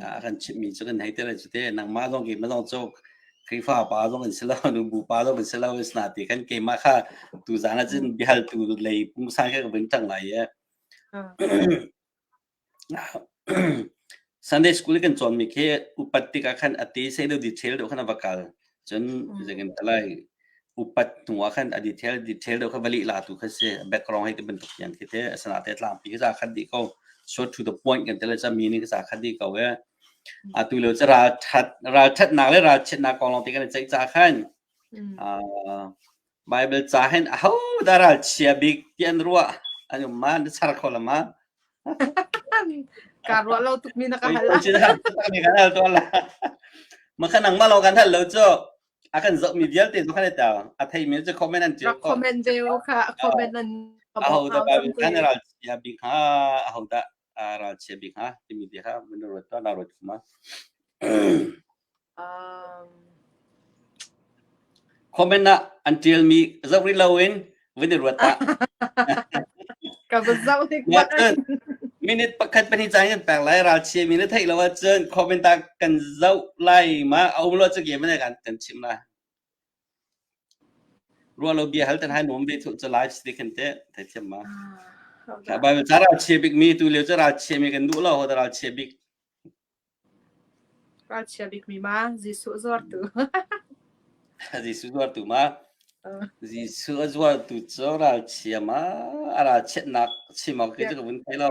S1: a kan chimmi cu kan hei te le cute nangmah zong keimah zong cu Khrihfa pa zong in si lo nu bu pa zong in si lo is na ti kan keimah kha tu zan ah cun biahal tu lei pung sang kha ka vin thang lai ye Sunday school kan chuan mi khi upat tik ah khan ate se lo detail do khana bakal cun zekin ta lai upat hnuah khan a detail detail deuh kha va lih la tu kha si background hei ti bantuk hian khi te asana te tlang pi za khat di ko so to the point kan tele cha meaning za khat di ko e atu le cha ral that ral that nak le ral chet nak kong long te kan chai cha khan a Baibal ca hin ahodah ralchia bik ti an ruah an um ma? Na char kho lo ma? Kaa ruah lo tukmi na ka hal. Oi, oi, oi, kan hal tuan la. Makhan ang malo kan hal lo cu a kan zohmi vialte tu kan i tau. A theimi cu comment an ṭial ko. Comment deo kha comment an. Ahodah Baibal kan ralchia bik ha? Ahodah ralchia bik hna timi te kha min ruat tuah na ruat kuma comment ah an tial mi zak rih lo in vin i ruat ah ka ka zau tik wat minute pakhat pahnih cang in peng lai ralchia mi na thei lo ah cun comment ah kan zau lai ma au lo chak ye man kan chim na Ruah lo bia hal te hai nuam ve thuh cu live stick kan teh thei thiam ma. Bible ca ral chia bik mi tu lio cu ral chia mi kan duh lo ho da ral chia bik. Ral chia bik mi ma Jesuh zuar tu. Jesuh zuar tu ma. Jesuh a zuar tu cu ral chia ma a ral chiatnak chim ma ke cu ka vun thei lo.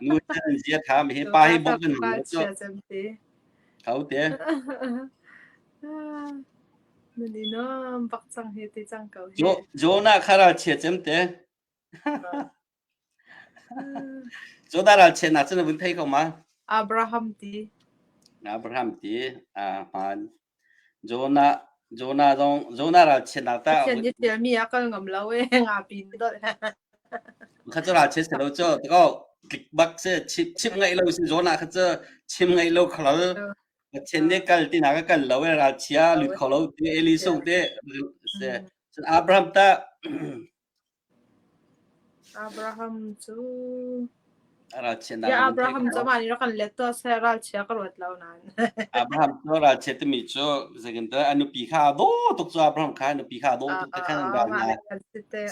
S1: Nu chan zia tha mi hi pa hi bawm an hung cu. Hote. Nun inom bak cang hi ti cang ko hi. Jo Jona khara chia chem te. Jona ral chia nak chan vun thei ko ma. Abraham ti. Abraham ti. Amen. Jonah ralchiatnak ta Pathian nih ṭialmi a kal ngam lo ee ngapi in dolh. Kha cu ralchiat si lo cu tako tlik bak si chim ngai lo si Jonah kha cu chim ngai lo khalal Pathian nih kal tinak a kal lo ee ralchia lut kho lo ti Eli sung ti. Cun Abraham ta Abraham cu Ralchiatnak Bia Abraham cu amah nih rak kan let tuah seh ralchia ka ruat lo nain. Abraham cu ralchia timi cu zeitintiah a nupi kha a daw tuk cu Abraham kha a nupi kha a daw tuk ti khan an ral hna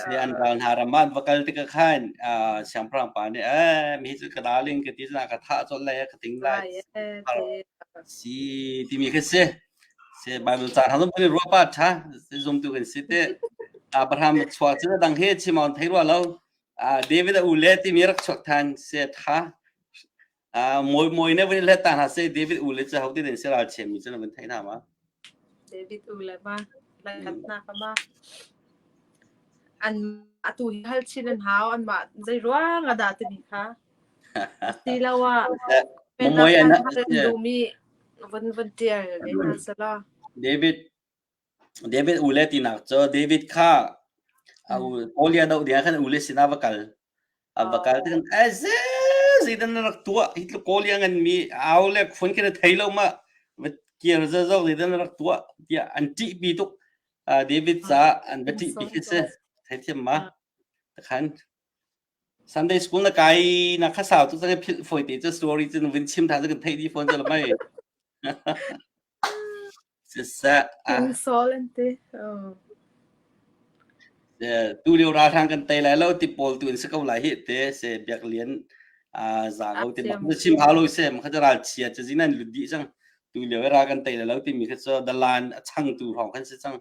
S1: sai an ral hna ram ah an va kal tikah khan siangpahrang pa nih "Eh mi hi cu ka darling ka ti cun a ka thah colh lai a ka ting lai a si timi khi a si. Baibal caan hal kan i ruah pah ṭha zumtu kan si teh. Abraham chuak cun a dang he chim on thei rua lo. David a u le timi rak chuak than se ṭha. Mui mui ne vun let ta hna se David u le cu hau ti den se ral chemi cun vun thei hna ma. David u le ma lakatnak ma an atu hi hal chin an hau an ma zei ruang ada timi kha. Ti lo ah. Mui an hal dumi Van van ṭial len hna selaw. David David ule tinak cu David kha a u Goliath no dia khan ule sinah va kal a va kal tikan ai ze zeidan na rak tuah hi tlu Goliath ngan mi au le khun khin thei lo ma va kiar za zo zeidan na rak tuah tiah an ṭih pi tuk David ca an va ṭih pi khi si theithiam ma takhan Sunday school na kai na kha sau tu cang philh fawi te cu story cu vun chim than cu kan theih dih fawn cu mai. Siseh a insolente oh tu lio ralhrang kan tei lai lo ti pawl tu in si ko lai hi te se biak lian a za ko ti ma cu chim hau lo se ma kha ca ral chia cu zin an lut dih cang tu lio i ra kan tei lai lo ti mi kha cu dalan a chang tu hrawng kan si cang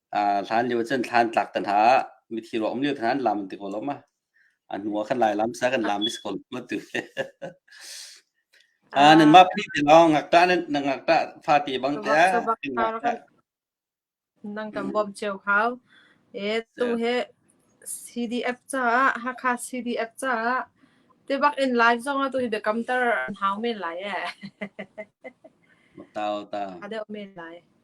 S1: hlan lio cun thlan tlak te hna ah mithi ruak um lio te hna an lam ti ko lo ma a hnu ah kan lai lam sa kan lam is ko lo tu a nan mah phi ti long ngak ta nan ngak ta fa ti bang te nang tam bom cheu khao e tu he CDF cha hakha CDF cha te bak in live song tu the counter hau men lai e tao tao ada men lai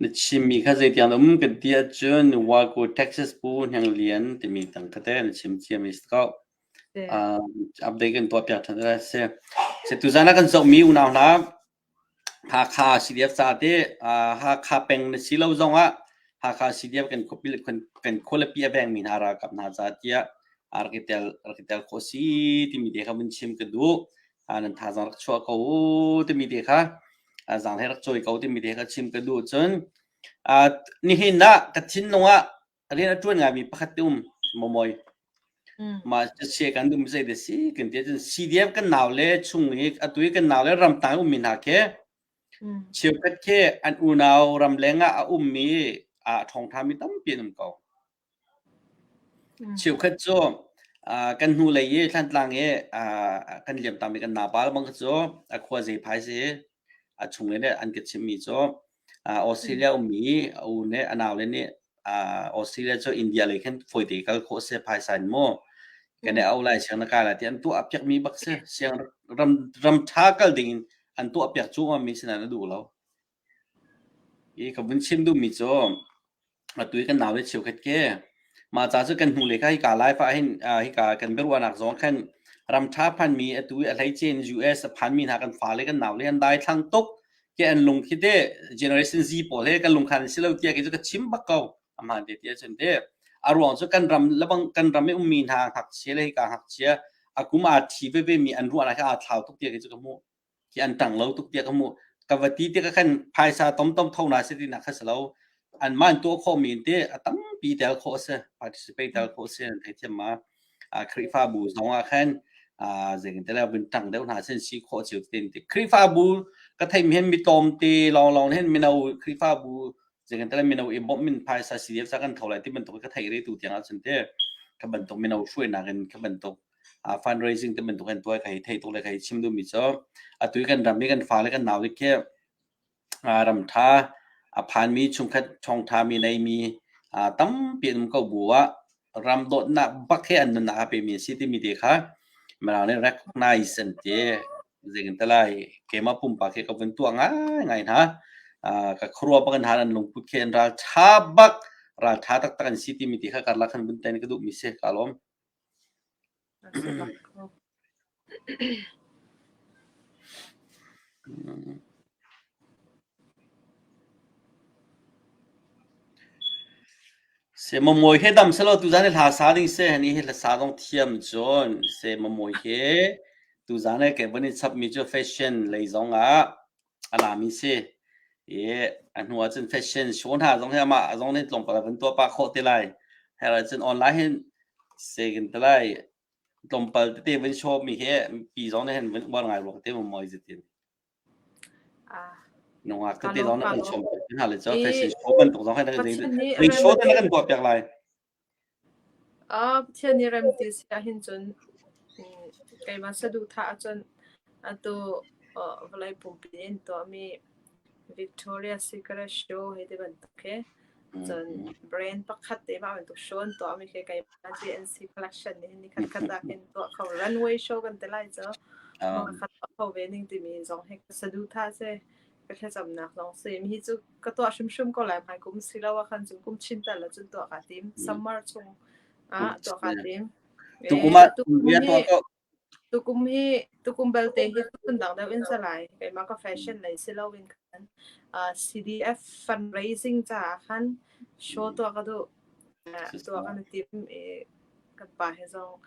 S1: Na chimmi kha zeitiang dah a um kan ti ahcun Wagyu Texas Pu Hniang Lian timi tang kha teh na chim ciam i si ko. Uh, update kan tuah piak ṭhan lai a si. Si tuzaan ah kan zohmi unau hna Hakha CDF ca te uh, Hakha peng na si lo zong ah Hakha CDF kan khuapi le kan khualipi a vengmi hna ralkap hna ca tiah a rak i tel rak i tel khawh si timi te kha vun chim ka duh. nan thazaang rak chuah ko timi te kha zaang he rak cawi ko timi te kha chim ka duh cun nihin ah ka thinlung ah rian a ṭuan ngaimi pakhat te um momoy ma se kan dum sei de si kan ti cun CDF kan nau le chung hi atu kan nau le ramtang ummi hna khi cheukhat khi an unau ramleng ah a ummi a thongthami tampi an um ko Cheukhat cu aa kan hnulei i Thlantlang i aa kan liamtam i kan napa bang kha cu a khua Zephai si i a chungle nih an ka chimhmi cu aa Australia ummi a u nih a naule nih aa Australia cu India lei khan fawite i kal khawh a si phaisa in mu. Kan i auh lai siang na kai lai tiah an tuah a piakmi bak si. Siang ram ram ṭha kal dingin an tuahpiak cuahmahmi sinah na duh lo. Hi ka vun chim duhmi cu atu hi kan nau le cheukhat khi mah ca cu kan hnulei kha hika Laifa ah hin hika kan biaruahnak zong khan ramṭha phanmi atu i a hleicein US a phanmi hna kan fale kan nau le hi an daithlang tuk ti an lung khi teh generation Z pawl he kan lung khan an si lo tiah kei cu ka chim bak ko. Amah te ti ahcun teh a ruang cu kan ram lebang kan ram i ummi hna ngakchia le hika ngakchia a kum aa thi vevemi an ruahnak hi aa thlau tuk tiah kei cu ka hmuh. hi an tang lo tuk tiah ka hmuh ka va ti tik ah khan phaisa tomtom tho na si tinak kha si lo an man tuah khawh mi te a tampi tel khawh a si participate tel khawh a si an thei thiam ma Khrihfabu zong ah khan zeingantele vintang deuh hna sin si khawh cio ten ti Khrihfabu ka thei mi hin mi tlawm te lawng lawng hin mino Khrihfabu zeingantele mino i bawmh min phaisa CDF sa kan tho lai ti bantuk ka thei re tu tiang ah cun te ka bantuk mino hruainak in ka bantuk fundraising te bantuk an tuai ka hei theih tuk le ka hei chim duhmi cu atu i kan ram i kan fale kan nau khi ramtha a phanmi chungkhat thawngtha mi neimi tampi an um ko bu ah ram dawtnak bak he an nunnak a pemi a si timi te kha mirang nih recognize an ti zeikin ta lai keima pumpak hi ka vun tuah ngai ngai hna ka khruwa bak an han an lungput khi an ral tha bak ral tha taktak an si timi ti kha karlak han vun ten ka duh mi si ka lawm Na ṭha bak maw? Se mamuai he dam selo tuzan he hla sa ding se hani he hla sa dong thiam cun se mamuai he tuzan he ke bani chap mi cu fashion lei zong ah a lami si i a hnu ah cun fashion show hna zong hi amah zong nih tlawmpal a vun tuah pah khawh te lai her ah cun online hin se kan ti lai tlawmpal tete vun show mi hi pi zong nih hin vun uar ngai rua te mu moi zitin nungak tete zong nih kan show hna le cho fashion show bantuk zong hi ring show te na kan tuah piak lai Pathian i rem ti si ahhin cun keimah saduhthah ahcun atu vawlei pumpi in tuahmi Victoria Secret Show hi tibantuk hi cun brand pakhat te mah bantuk show an tuahmi khi keimah GNC Collection nih hin nikhatkhat ahkhin tuah kho runway show kan ti lai cu. Mawngkhat tuah kho ve ning timi zong hi ka saduhthah a si. ka thlacamnak lawng si. Hi cu ka tuah hrimhrim ko lai. Hmai kum si lo ahkhan cu kum chin tal ah cun tuah kaa tim. Summer chung ah tuah kaa tim. Tukum ah bia tuah ko. Tukum hi tukum belte hi phundang deuh in salai. Keimah ka fashion lei si loin kan CDF fundraising caah khan show tuah ka duh tuah kan tim. kan pa he zong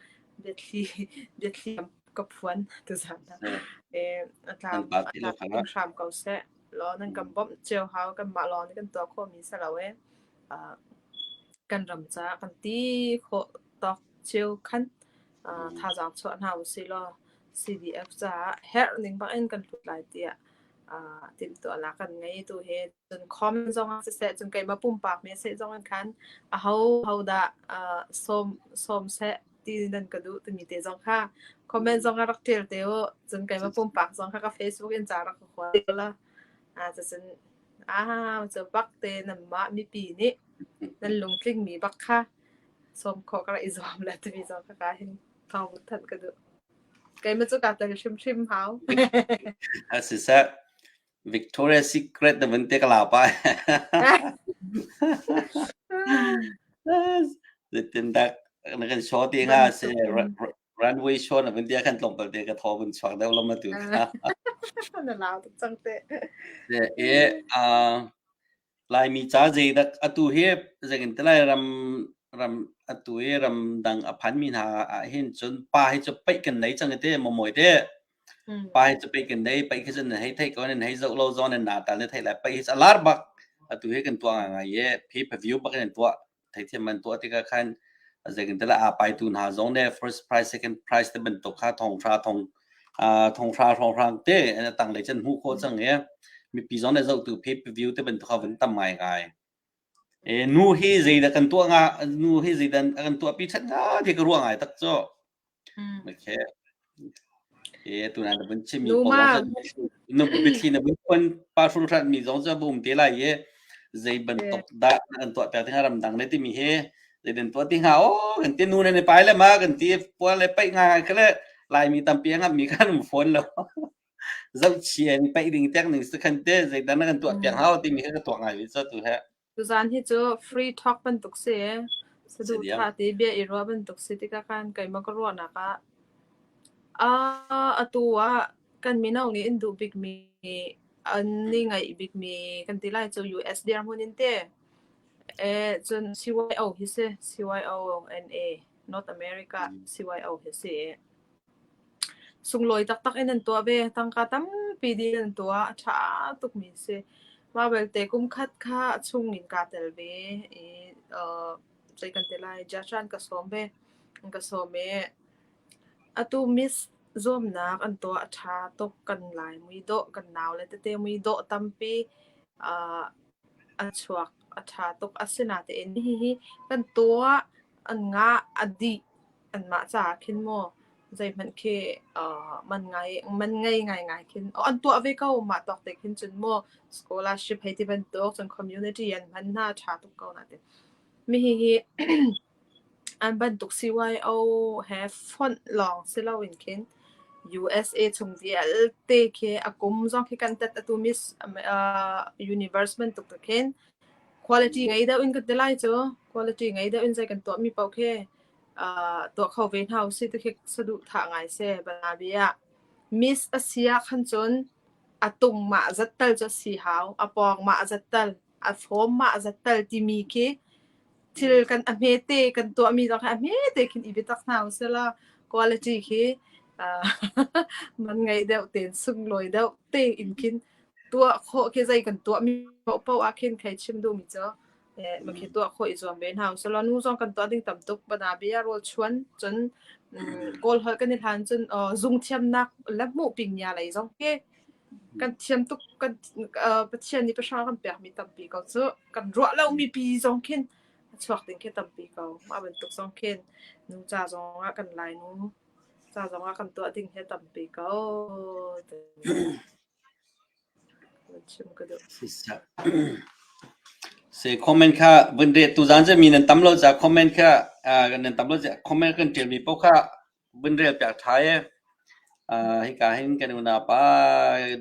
S1: biathli biathli ka phuan tu zan e a tlang in hram ko seh law nan kan bawmh cio hau kan mah lawng nih kan tuah khawh mi si lo e kan ram ca kan ti khawh tawk cio khan thazang chuah hna u si law CDF caah herh ning bak in kan lut lai tiah timhtuahnak kan ngei tu he cun comment zong ah siseh cun keimah pumpak me seh zong an khan a ho ho dah uh, som som se ti nan ka du timi te zong kha comment zong a rak ṭial te o cun keimah pumpak zong kha ka facebook in ca rak ka khua la a cun a cu bak te nan mah mipi nih nan lungtling mi bak kha som khawh ka i zuam le timi zong kha ka hin thawng than ka du keimah cu ka tel hrim hrim hau a si seh Victoria's Secret na vun te ka lau pa. Tindak na kan show ti nga se runway show na vun dia kan tlong pal te ka tho vun chuak deu lam tu. Na lau cang te. E a Laimi ca zeidak atu hi zekinti lai ram ram atu i ramdang a phanmi hna ahhin cun pa hi cu peih kan nei cang hiti momoy te. Mm. Pa hi cu peih kan nei peih khi cun nan hei theih ko nan hei zoh lo zong nan nata le theih lai peih hi cu a lar bak atu hi kan tuah ngai ngai i pay per view bak in an tuah. theithiam an tuah tikah khan zeitintilah aa pai tu hna zong nih first price second price te bantuk kha thonghra thong thonghra hrawnghrang te an tanglei can hmuh khawh cang i mipi zong nih zohtu pay per view te bantuk kha van tam ngai ngai e nu hi zeidah kan tuah nga nu hi zeidan kan tuah pi that nga ti ka ruah ngai tak cu Okay. Okay, tuna na vun chim mi kong ah na biathli na vun phuan parfum hlat mi zong cu va um te lai i zei bantuk dah na kan tuah piak ti hnga ramdang le timi hi zei den tuah ti hnga o kan ti nu ne ne pai le ma kan ti puan le paih nga kale laimi tampi ngap mi kan um phone lo zoh chia ni paih ding tek ning se khan te zei dan na kan tuah piak hau timi hi ka tuah ngai mi so tu he Tuzaan hi cu free talk bantuk si i saduhthah ti bia i ruah bantuk si tikah khan keimah ka ruahnak ah uh, atu ah kan mino nih in duh bikmi an ni ngaih bikmi kan ti lai cu US dirhmun in te eh cun CYO hi si CYO NA North America CYO hi si Sunglawi taktak in an tuah ve. Tangka tampi din an tuah. A ṭha tukmi a si. Mah belte kum khat kha a chung in kaa tel ve i, uh, zei kan ti lai, Jasha an ka sawm ve. An ka sawm i, atu miss zuamnak an tuah a ṭha tuk. Kan lai mui dawh, kan nau le tete mui dawh tampi uh, a chuak. A ṭha tuk. Asinain hihi kan tuah an ngah a dih. anmah caah khin maw zeihmanh khi uh, man ngai man ngei ngaingai khin oh, an tuah ve ko mah tok te khin cun maw scholarship hei ti bantuk cun community an hman hna tha tuk ko na te mi hi hi an bantuk CYO he font long silo in khin USA chung vialte khi akum zong khi kan tat atu miss uh, universe man tuk khin quality ngai deuh in kan telai chu quality ngai deuh in zai kan to mi pau khe tuah kho ve hna usih ti khi saduhthah ngai si. Balabi ah miss a si ahkhan cun a tung mah zat tal cu a si hau, a pawng mah zat tal, a fawm mah zat tal timi khi thil kan a hmete kan tuahmi zong hi a hmete khin i biatak hna usih law quality khi man ngei deuh tein sunglawi deuh tein khin tuah khawh khi zei kan tuahmi paohpaoh ahkhin thei chim duhmi cu makhi tuah kho i zuam ve hna usih law nu zong kan tuah ding tam tuk bana bia rawl chuan cun kawl holh kan i hlan cun zung thiamnak le hmuh pingnya lei zong hi kan thiam tuk kan pathian nih pahra kan pek mi tampi ko cu kan ruah lo mi pi zong khin chuak ding khi tampi ko mah bantuk zong khin nu ca zong ah kan lai nu ca zong ah kan tuah ding he tampi ko Si comment kha vun reh tu zan cu mi nan tam lo za comment kha uh, nan tam lo za comment kan tial mi pau kha vun rel piak thai uh, hi ka hin kan unapa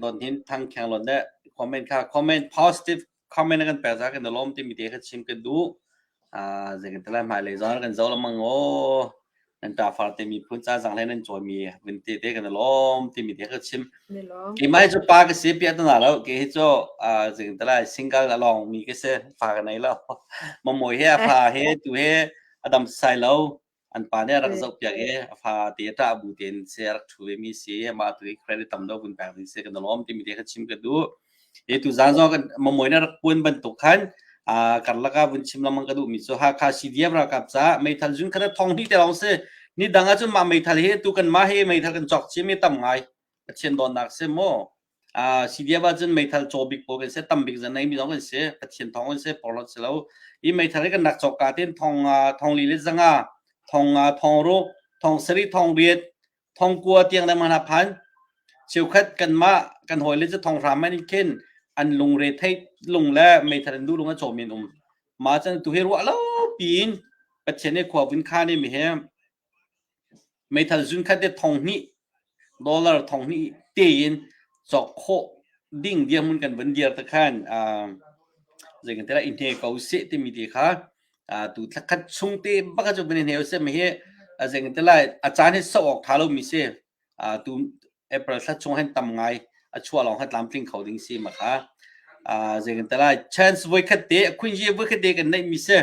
S1: don hin thang khang lon de comment kha comment positive comment kan pek zah kan i lawm timi te kan chim kan duh uh, zeikan talai hmai lei zong kan zo lamang o nan ta far te mi phun cha zang le nan choi mi vin te te kan i lawm timi te kan chim ki mai chu pa ka si pi atana lo ke hi chu zeikan talai single la long mi ka se fa ka nei lo mo mo he fa he tu he adam sai lo An pa nih a rak zohpiak i a fate a ṭah bu tein si a rak ṭhu ve mi si, amah tu hi credit tam deuh vun pek ding si, kan i lawm timi te kha chim ka duh. Hi tuzaan zong kan Mamoi nih a rak puan bantuk khan aa karlak ah vun chim lengmang ka duh mi cu Hakha CDF ralkap caah meithal zun khat a thawng hnih te lawng si. Ni dang ahcun mah meithal hi tu kanmah hi meithal kan cawk chin mi tam ngai. Pathian dawtnak si maw? Ah hi viav ahcun meithal caw bik pawl kan si, tam bik zan neimi zong kan si, Pathian thawng kan si, porhlawt si lo. Hi meithal hi kan rak cawk ka tein thong ah thonglih le zanga, thong ah thongruk, thong sarih, thong riat, thong kua tiang le man ha phan. Cheukhat kanmah kan hawi le cu thong hram an in khin an lungre thei lung le meithal an duh lung a caw men um. Ma cun tu hi ruah lo piin Pathian hi khuavun kha nih mi he Meithal zunkhat le thong hnih dollar thong hnih tein cawk khawh ding dirhmun kan van dir te khan uh, zei kan tela in he ko se timi te kha uh, tu thakhat chung te baka chu ben he se me he zei kan tela a chan he so ok tha lo mi se uh, tu April thla chung han tam ngai a chua long ha tlam tling kho ding si ma kha uh, zei kan tela chance voi khat te a queen ye voi khat te kan nei mi se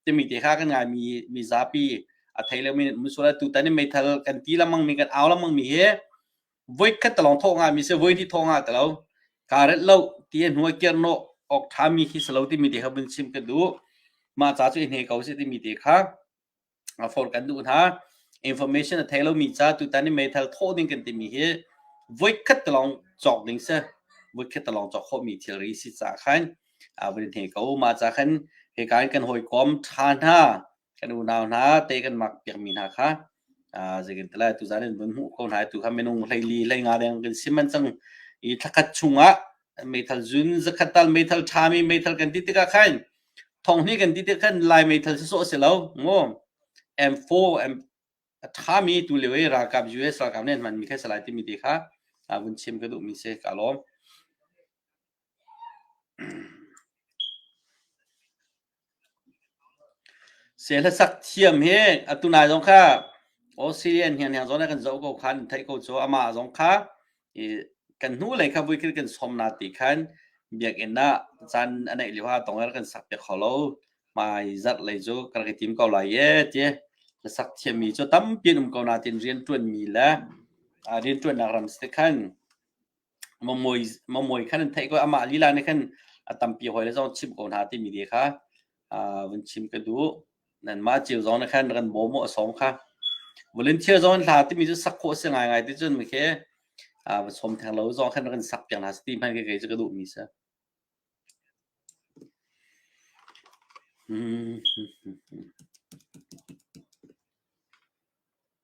S1: timi te kha kan ngai mi mi zapi a thei lo mi mun sual tutan in meithal kan ti lamang mi kan au lamang mi hi voi khat talong thawh nga mi se voi thi thawng nga talo karet lo ti hnuai ker no ok tha mi khi salo ti mi te kha bin sim kan du ma cha chu hne ko se ti mi te kha a for kan du na information a thei lo mi cha tutan in meithal tho ding kan ti mi hi voi khat talong chok ding se voi khat talong chok kho mi thilri si cha khan vun in hne ko mah ca khan hika in kan hawikom ṭha hna kan unau hna te kan mak piakmi hna kha zeitintiah tuzan in vun hmuh ko hna tu kha minung hleili hleinga deng kan sim an cang i thlakhat chungah meithal zun zakhat tal meithal ṭhami meithal kan ti tikah khan thonghni kan ti tikah khan lai meithal si sawh si lo ngo M4 M ṭhami tu leo i ralkap US ralkap nih an hmanmi kha salai timi te kha vun chim ka duhmi si ka lawm Sehlasak thiam hi atu nai zong kha Australia hnianghniang zawn ah kan zoh ko khan theih ko cu amah zong kha i kan hnulei kha vui khin kan sawm na ti khan biakinn ah caan a neih lio ah tong er kan sak piak hau lo hmai zarh lei cu ka rak i tim ko lai ee ti hlasak thiammi cu tampi an um ko nain rianṭuanmi le rianṭuannak ram si te khan Mamawi khan an theih ko. Amah lila nih khan a tampi hawile zong chimh ko hna timi te kha vun chim ka duh. Nanmah cio zong nih khan kan bawm u a sawm kha. Volunteer zong an hla timi cu sak khawh a si ngaingai ti cun mikhe va sawm theng lo zong khan rak in sak piak hna seh ti hmanh khi kei cu ka duhmi si.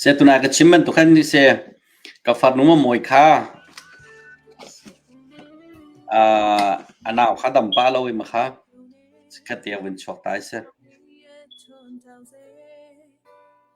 S1: Seh tuna ka chim bantuk khan ni se ka farnu Mamawii kha uh, a nau kha dam pa lo i makha ka te vun chuak ta seh.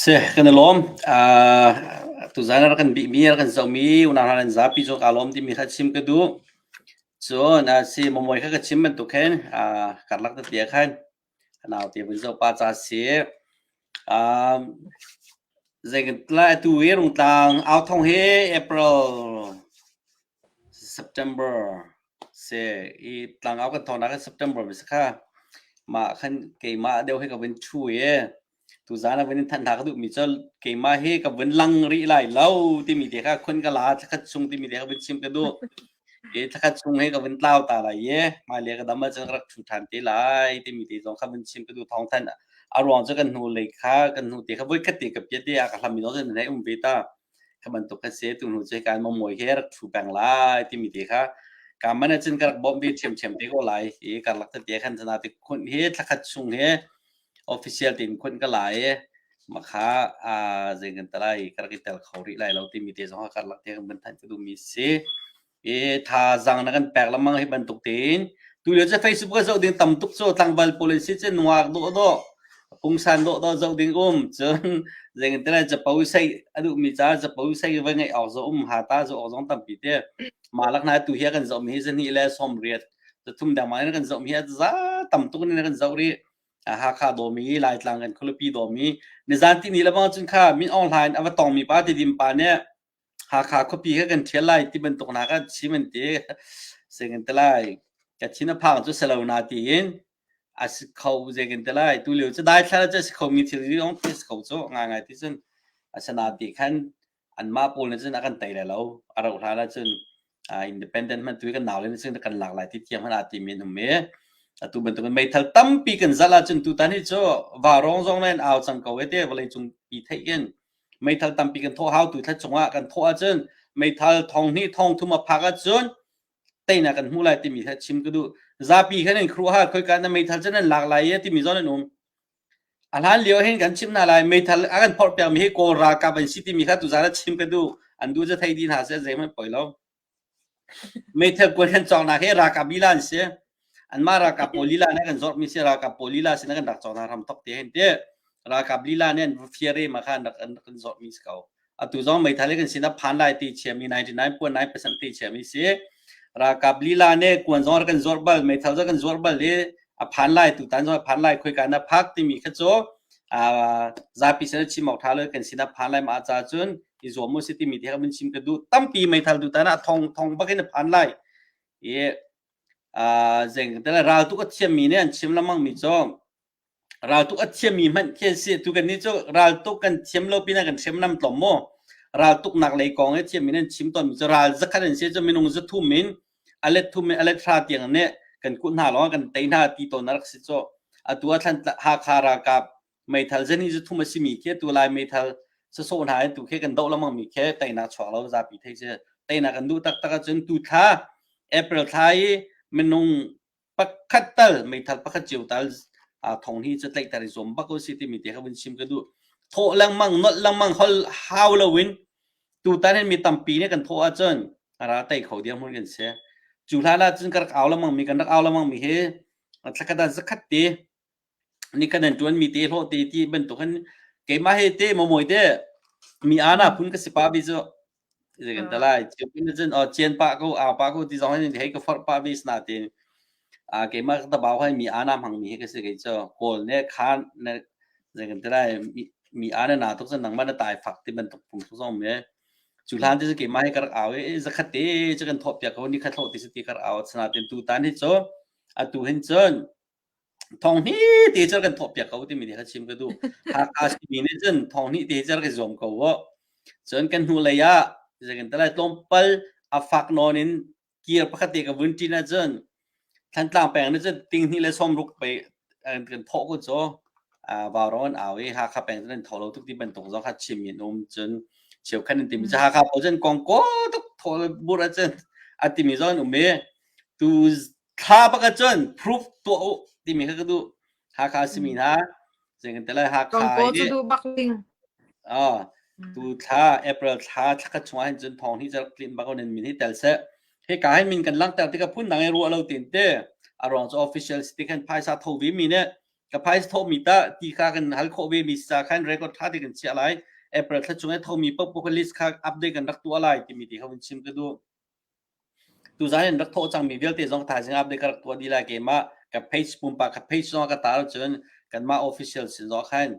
S1: Seh kan i lawm. Aa tuzaan a rak kan bihmi, a rak kan zohmi unau hna nan zapi cu ka lawm timi kha chim ka duh. Cun a si, Mamuai kha ka chim bantuk khin aa karlak tete ah khan naute vun zoh pah ca a si. Aa zeitlai atu i Rungtlang Au Thong hi April September se i tlangau kan thawngnak in September ve sakha mah khan keimah deuh hi ka vun thu i tuzaan a vun in thanh hna ka duhmi cu keimah hi ka vun lang rih lai lo timi te kha khun ka la thlakhat chung timi te kha vun chim ka duh i thlakhat chung hi ka vun tlau ta lai i hmailei ka dam ahcun ka rak thu ṭhan te lai timi te zong kha vun chim ka duh thawng thanh a ruang cu kan hnu lei kha kan hnu te kha voi khat te ka piat i a ka hlammi zong cu nan hei um ve ta kha bantuk kha se tu nu ce kan mong moi he rak thu peng lai timi te kha ka man cun ka rak bawm ve thiam thiam te ko lai i ka lak te khan tana te khun he thakhat chung he official tin khun ka lai ma kha a zeng kan talai ka rak tel khori lai lo timi te zong ka lak te kan ban than tu mi si i thazaang na kan pek lengmang hi bantuk tiin tulio cu facebook ah zoh ding tam tuk cu tlangval pawl in si cu nuak dawh dawh pungsan dawh dawh zoh ding um cun zeitintiah capo sei a duhmi caah capo sei va ngeih awk zawh um ha ta zoh awk zong tampi te malak hna tu hi kan zoh mi hi zahnih le sawm riat cathum dengmang in kan zoh mi hi za tam tuk in kan zoh rih Hakha domi Laitlang kan khulipi domi nizan tini lebang cun kha min online ava tongmi pa tidim pa nih Hakha khuapi kha kan ṭhial lai ti bantuk hna kha chim an ti. Zei kan ti lai, Kachin a phang cu si lo na tiin a si kho zei kan ti lai. Tu lio cu daithlar cu a si khomi thilri zong khi a si kho cu ngaingai ti cun. Asinain ti khan anmah pawl nih cun a kan tei lai lo. A rauh hlan ah cun independent hman tu kan nau le sin kan lak lai ti thiam hana ti men um me atu bantuk meithal tampi kan zal ahcun tutan hi cu varong zong nan au cang ko ete vawlei cung pi theikin meithal tampi kan thawh hau tu thla chungah kan thawh ahcun meithal thong hni thong thum a phak ahcun teina kan hmu lai timi thla chim kudu zapi khan in khru ha khoi ka na meithal chen an lak lai ya timi zon an um A hlan lio hin kan chimh hna lai, meithal a kan phorh piakmi hi Kawl ralkap an si timi kha tuzaan ah chim ka duh. An duh cu thei ti hna seh, zeihmanh poi lo. Meithal kuai kan cawknak hi ralkap lila an si. Anmah ralkap pawl lila nih kan zorhmi si, ralkap pawl lila sin ah kan rak cawn hna hram tok ti a hin tih. Ralkap lila nih an fiarem ah khan an rak kan zorhmi si ko. atu zong meithal hi kan sinah phan lai ti chiami 99.9 percent ti chiami si ralkap lila ne kuan zong kan zuar bal meithal zong kan zuar bal i a phan lai tu tan zong a phan lai khoika na phak timi kha chu zapi sin chim ok tha le kan sinah phan lai ma ca cun i zuam mu si timi ti kha mun chim ka du tampi meithal tu tan a thong thong bakin phan lai i zeng tele ral tu ka thiam mi ne an chim lamang mi chong Raltuk a thiammi hmanh khi an si. Tu kannih cu raltuk kan thiam lo pinah kan hriamnam tlawm maw? Raltuknak lei kong i thiam in an chim tawnmi cu ral zakhat an si cu minung zathum in a let thum in a let hra tiang nih kan kuh hna lawngah kan tei hna ti tawn a rak si cu. Atu a Thantlang Hakha ralkap meithal zan hi zathum a simi khi atu Lai meithal sasawh hna in tu khi kan doh lengmangmi khi teinak chuak lo zapi theih si. Teinak kan duh taktak ahcun tu thla April thla i minung pakhat tal meithal pakhat cio tal uh, thong hi cu tlaihter i zuam bak ko si timi te kha vun chim ka duh thawh lengmang nolh lengmang hol hau loin tutan hin mi tampi nih kan thawh ahcun ara tei kho diam hun kan se cu hla la cun kan rak au lengmang mi kan rak au lengmang mi hi thla khat ah zakhat te nih kan an ṭuan mi te hlawh te ti bantuk in keimah he te momawi te mi ana phun ka si pa bi cu zei kan ta lai chiu pin cun o chian pa ko au pa ko ti zong hin hei ka forh pa bi sna te a keimah ka tabau hai mi ana hmang mi he ka si kei cu kawl ne khan ne zei kan ta lai mi mi ana na tuk cun nang man tai fak ti bantuk pung su zong me cu hlan ti cu keimah he karak au e zakhat te cu kan thop piak ko ni khat hlawh ti si ti karak au sana ten tu tan hi cu atu hin cun Thawng hmete cer kan thawhpiak ko timi nih a chim ka duh. Hakha simi nih cun thawng hmete cer kan zuam ko uh. Cun kan hnu lei ah zeicahtiah tlawmpal a fak nawn in kir pakhat te ka vun ṭin ahcun Thantlang peng nih cun tinghnih le sawmruk pei an kan thawh ku cu ah Vauron au i Hakha peng cun an tho lo tuk ti bantuk zong kha chim in um cun cheukhat in timi cu Hakha paoh cun kongkaw tuk thaw bur ahcun a timi zong an um i tu Thla pakhat cun proof tuah u timi kha ka duh. Hakha simi hna. Zei kan tala Hakha Tonko cu nih duh bak ding. oh, tu thla April thla thla khat chung ahhin cun thawng hi cal tlin bak in min hi tel seh. Hi ka hin min kan langhter tikah phun dang i ruah lo tin te a ruang cu official si ti khan phaisa tho ve mi ne ka phaisa tho mi ta ti kha kan hal khawh ve mi sa khan record tha ti kan chiah lai April thla chung i tho mi pok pok list kha update kan rak tuah lai timi ti kha hun chim ka duh. Tuzaan in rak thawh cangmi vialte zong thaizing update ka rak tuah dih lai. Keimah ka page pumpak page zong ka tar ahcun kanmah official sin zong khan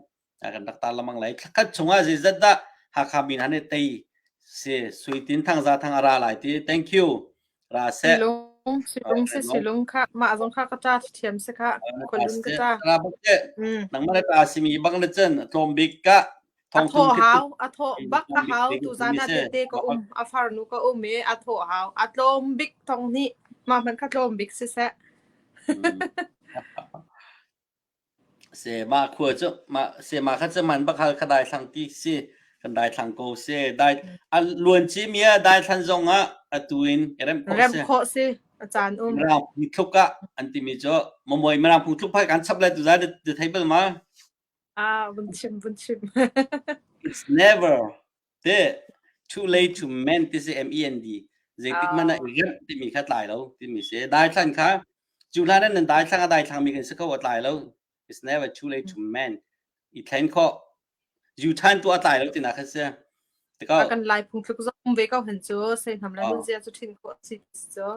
S1: kan rak tar lengmang lai. Thlakhat chungah zeizat dah Hakha min han i tei si sui tin thang za thang a ra lai ti. Thank you. Ra seh. Silung, silung se silung kha mah zong kha ka ta thiam se kha kolun ka ta. Ra bak te. Nangmah le ta simi bak na cun tlawm bik ka a thawh hau a thawh bak a hau tuzan a tete ka um a farnu ka um i a thawh hau a tlawm bik thong nih ma hman kha tlawm bik si se se ma khua cu ma se ma kha chaman bakhal kha dai thlang ti si kan dai thlang ko se dai an luan chi mia dai thlan zong ah atu in rem ko se rem kho si chan um rang phu thluka an ti mi cho momoi marang phu thlup phai kan chap le tu za de theibel ma Ah, vun chim, vun chim. It's never teh too late to mend ti si mend zeitik hmanh ah Ah. i remh timi kha tlai lo timi si daithlan kha cu hlan ah nan daithlang a daithlangmi kan si kho a tlai lo it's never too late to mend i thlen khawh yu than tu a tlai lo tina kha si tikao A kan lai phung tluk zong ve ko hen cu sei hnam le Ah. nun zia cu thin khawh si cu.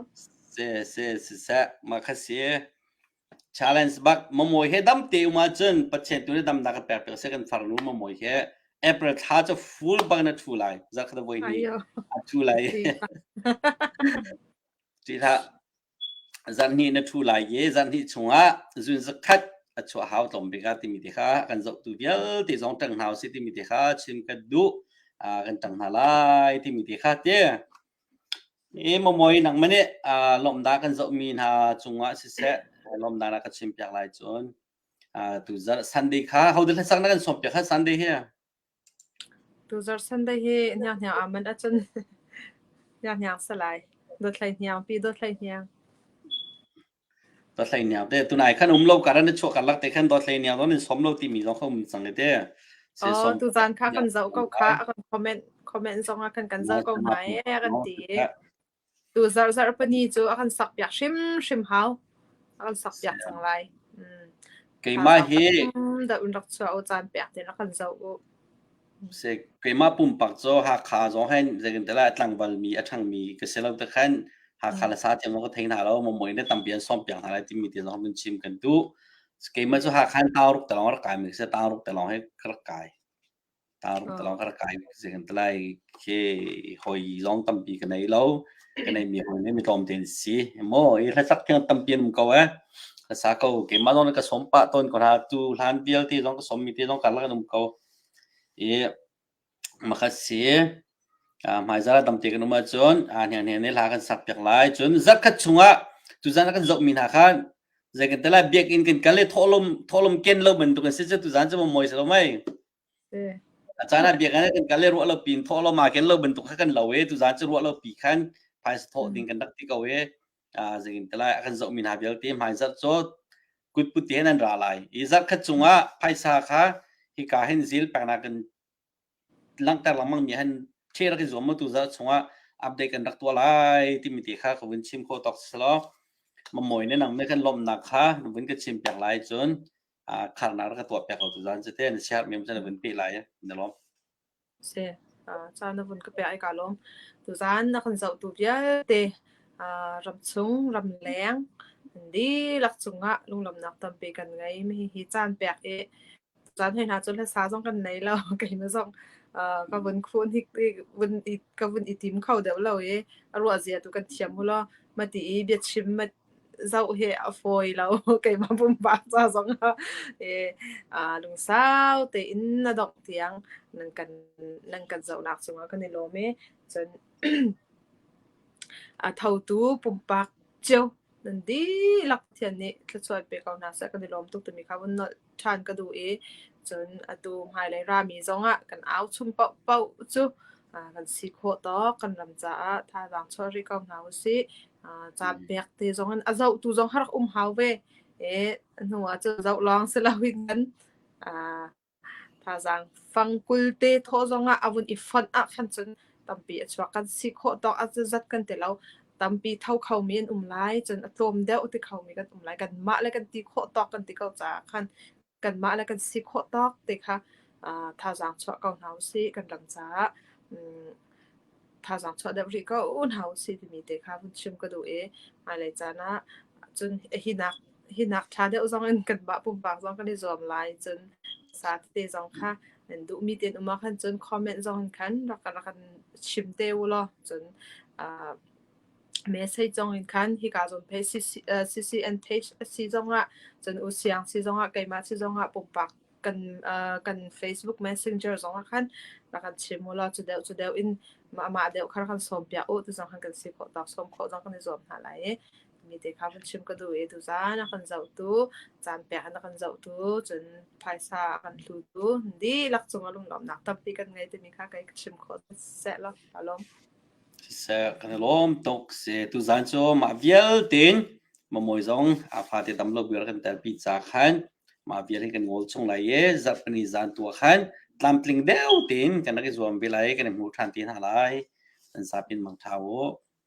S1: se se se se ma kha si challenge bak Momawi he dam te um ahcun Pathian tu nih damnak kan pek piak seh kan farnu Momawi he April thla cu full bang na thu lai zakhat voi ni a thu lai ti hlah zan hnih na thu lai i zan hnih chungah zun zakhat a chuah hau tlawm bik a timi te kha kan zoh tu vialte zong tang hna u si timi te kha chim ka duh kan tang hna lai timi te kha te I Mamawi nangmah nih uh, lawmhnak kan zohmi hna cungah siseh lawmhnak na kan chimpiak lai cun uh, tuzarh Sunday kha hodah hlasak na kan sawmpiak kha Sunday hi tuzarh Sunday hi hniang hniang aman acun hniang hniang salai dot hlei hniang pi dot hlei hniang da hleiniang te tunai khan um lo karan i chuah karlak te khan da hleiniang don in som lo timi zong kha um cang ite se oh som tuzan kha kan zoh ko kha a kan comment comment zong a kan kan zoh ko mai a kan ti tu zar zar pani chu a kan sak piak hrim hrim hau a kan sak piak cang lai keimah hi da un rak chuah o chan piak tin a kan zoh u keimah pumpak cu Hakha zong hin zeitintiah lai tlangvalmi a ṭhangmi ka si lo tikhan Hakha le sa thiam zong ka thei hna lo Momuai nih tampi an sawm piak hna lai timi te zong vun chim kan duh. Keimah cu Hakha in Taung ruk te lawng rak kai mi ka si Taung ruk te lawng hi ka rak kai. Taung ruk te lawng ka rak kai zeitintiah khi hawi zong tampi ka nei lo. Ka neimi hawi nih mi tlawmte an si. Maw i hlasak khi tampi an um ko ee. Hlasa ko keimah zong nih ka sawm pah tawn ko hna. Tu hlan vialte zong ka sawmmi te zong karlak an um ko. i makhat si hmaizal ah tamte kan um ahcun hnianghniang nih hla kan sak piak lai cun zarhkhat chungah tuzan a kan zohmi hna kha zei kan tel lai biakinn kan kal i thawhlawm thawhlawm ken lo bantuk an si cu tuzan cu mawi si lo mei a caan ah biakinn ah kan kal i ruah lo piin thawhlawm aa ken lo bantuk kha kan lo i tuzan cu ruah lo pi khan phaisa thawh ding kan rak ti ko i zekintelai akan zohmi hna vialte hmaizarh cu kutpute nan ra lai i zarh khat chungah phaisa kha hika hin zil peknak kan langhter lengmang mi han ṭhe rak in zuam mu tu zarh chungah update kan rak tuah lai timi te kha ka vun chim kho tok silo mamawi ne nang ne kan lomnak kha na vun ka chim pek lai cun kharnak ka tuah pek lo tu zan chete na sihat mem chan vun pe lai na lom Si, caan na vun ka pe ai kaa lawm. Tuzaan na kan zohtu vialte ramchung, ramleng an dihlak cungah lunglawmhnak tampi kan ngei. Hihi caan pek i caan hoi hna cu hlasa zong kan nei lo. Keimah zong ka vun khun hi ka vun i tim kho deuh lo i a ruahzia tu kan thiam ulaw mati i biachim Zoh hi a fawi lo. Keimah pumpak ca zong ah i, aa lungsau tein na dongh tiang nan kan nan kan zohnak cungah kan i lawm i, cun a thotu pumpak cio nan dihlak thian nih thluachuan pe ko hna seh kan i lawm tuk timi kha vun nolh ṭhan ka duh i cun atu hmailei rami zongah kan au chung paohpaoh cu kan si khawh tawk kan ram caah thazaang chuah rih ko hna usih caan mm. pek te zong in a zohtu zong har um hau ve e hnu ah cu zoh lawng si lo in kan thazaang fang kul te thaw zong ah a vun i fonh ah khan cun tampi a chuak kan si khawh tawk a zat kan ti lo tampi tho khomi an um lai cun a tlawm deuh ti khomi kan um lai kanmah le kan ti khawh tawk kan ti ko caah khan kanmah le kan si khawh tawk ti kha thazaang chuah ko hna usih kan ram caah thazaang chuah deuh rih ko u hna usih timi te kha vun chim ka duh i hmailei caan ah cun hi nak hi nak ṭha deuh zongin kanmah pumpak zong kan i zuam lai. Cun sa tete zong kha an duhmi tein um ahkhan cun comment zongin khan rak rak an chim te u law cun uh, message zongin khan hi ka zon pe CCN page si zongah cun u siang si zongah keimah si zongah pumpak kan uh, kan Facebook Messenger zongah khan rak an chim u law cu deuh cu deuh in ma ma deuh kha rak kan sawm pia u ti zong khan kan si khawh tak sawm khawh zong kan i zuam hna lai i mi te kha vun chim ka duh i tuzaan a kan zohtu caan pek an kan zohtu cun phaisa a kan hlutu dihlak cung a lunglawmnak tampi kan ngei timi kha kei ka chim khawh seh lo ka lawm siseh kan i lawm tuk si tuzaan cu mah vialte in mamawi zong a fate tam lo vial kan tel pi ca khan mah vial hin kan ngol chung lai i zarh kan i zan tua khan tlamtling deu tein kan rak i zuam ve lai kan i hmu ṭhan te hna lai kan sapin mangṭha u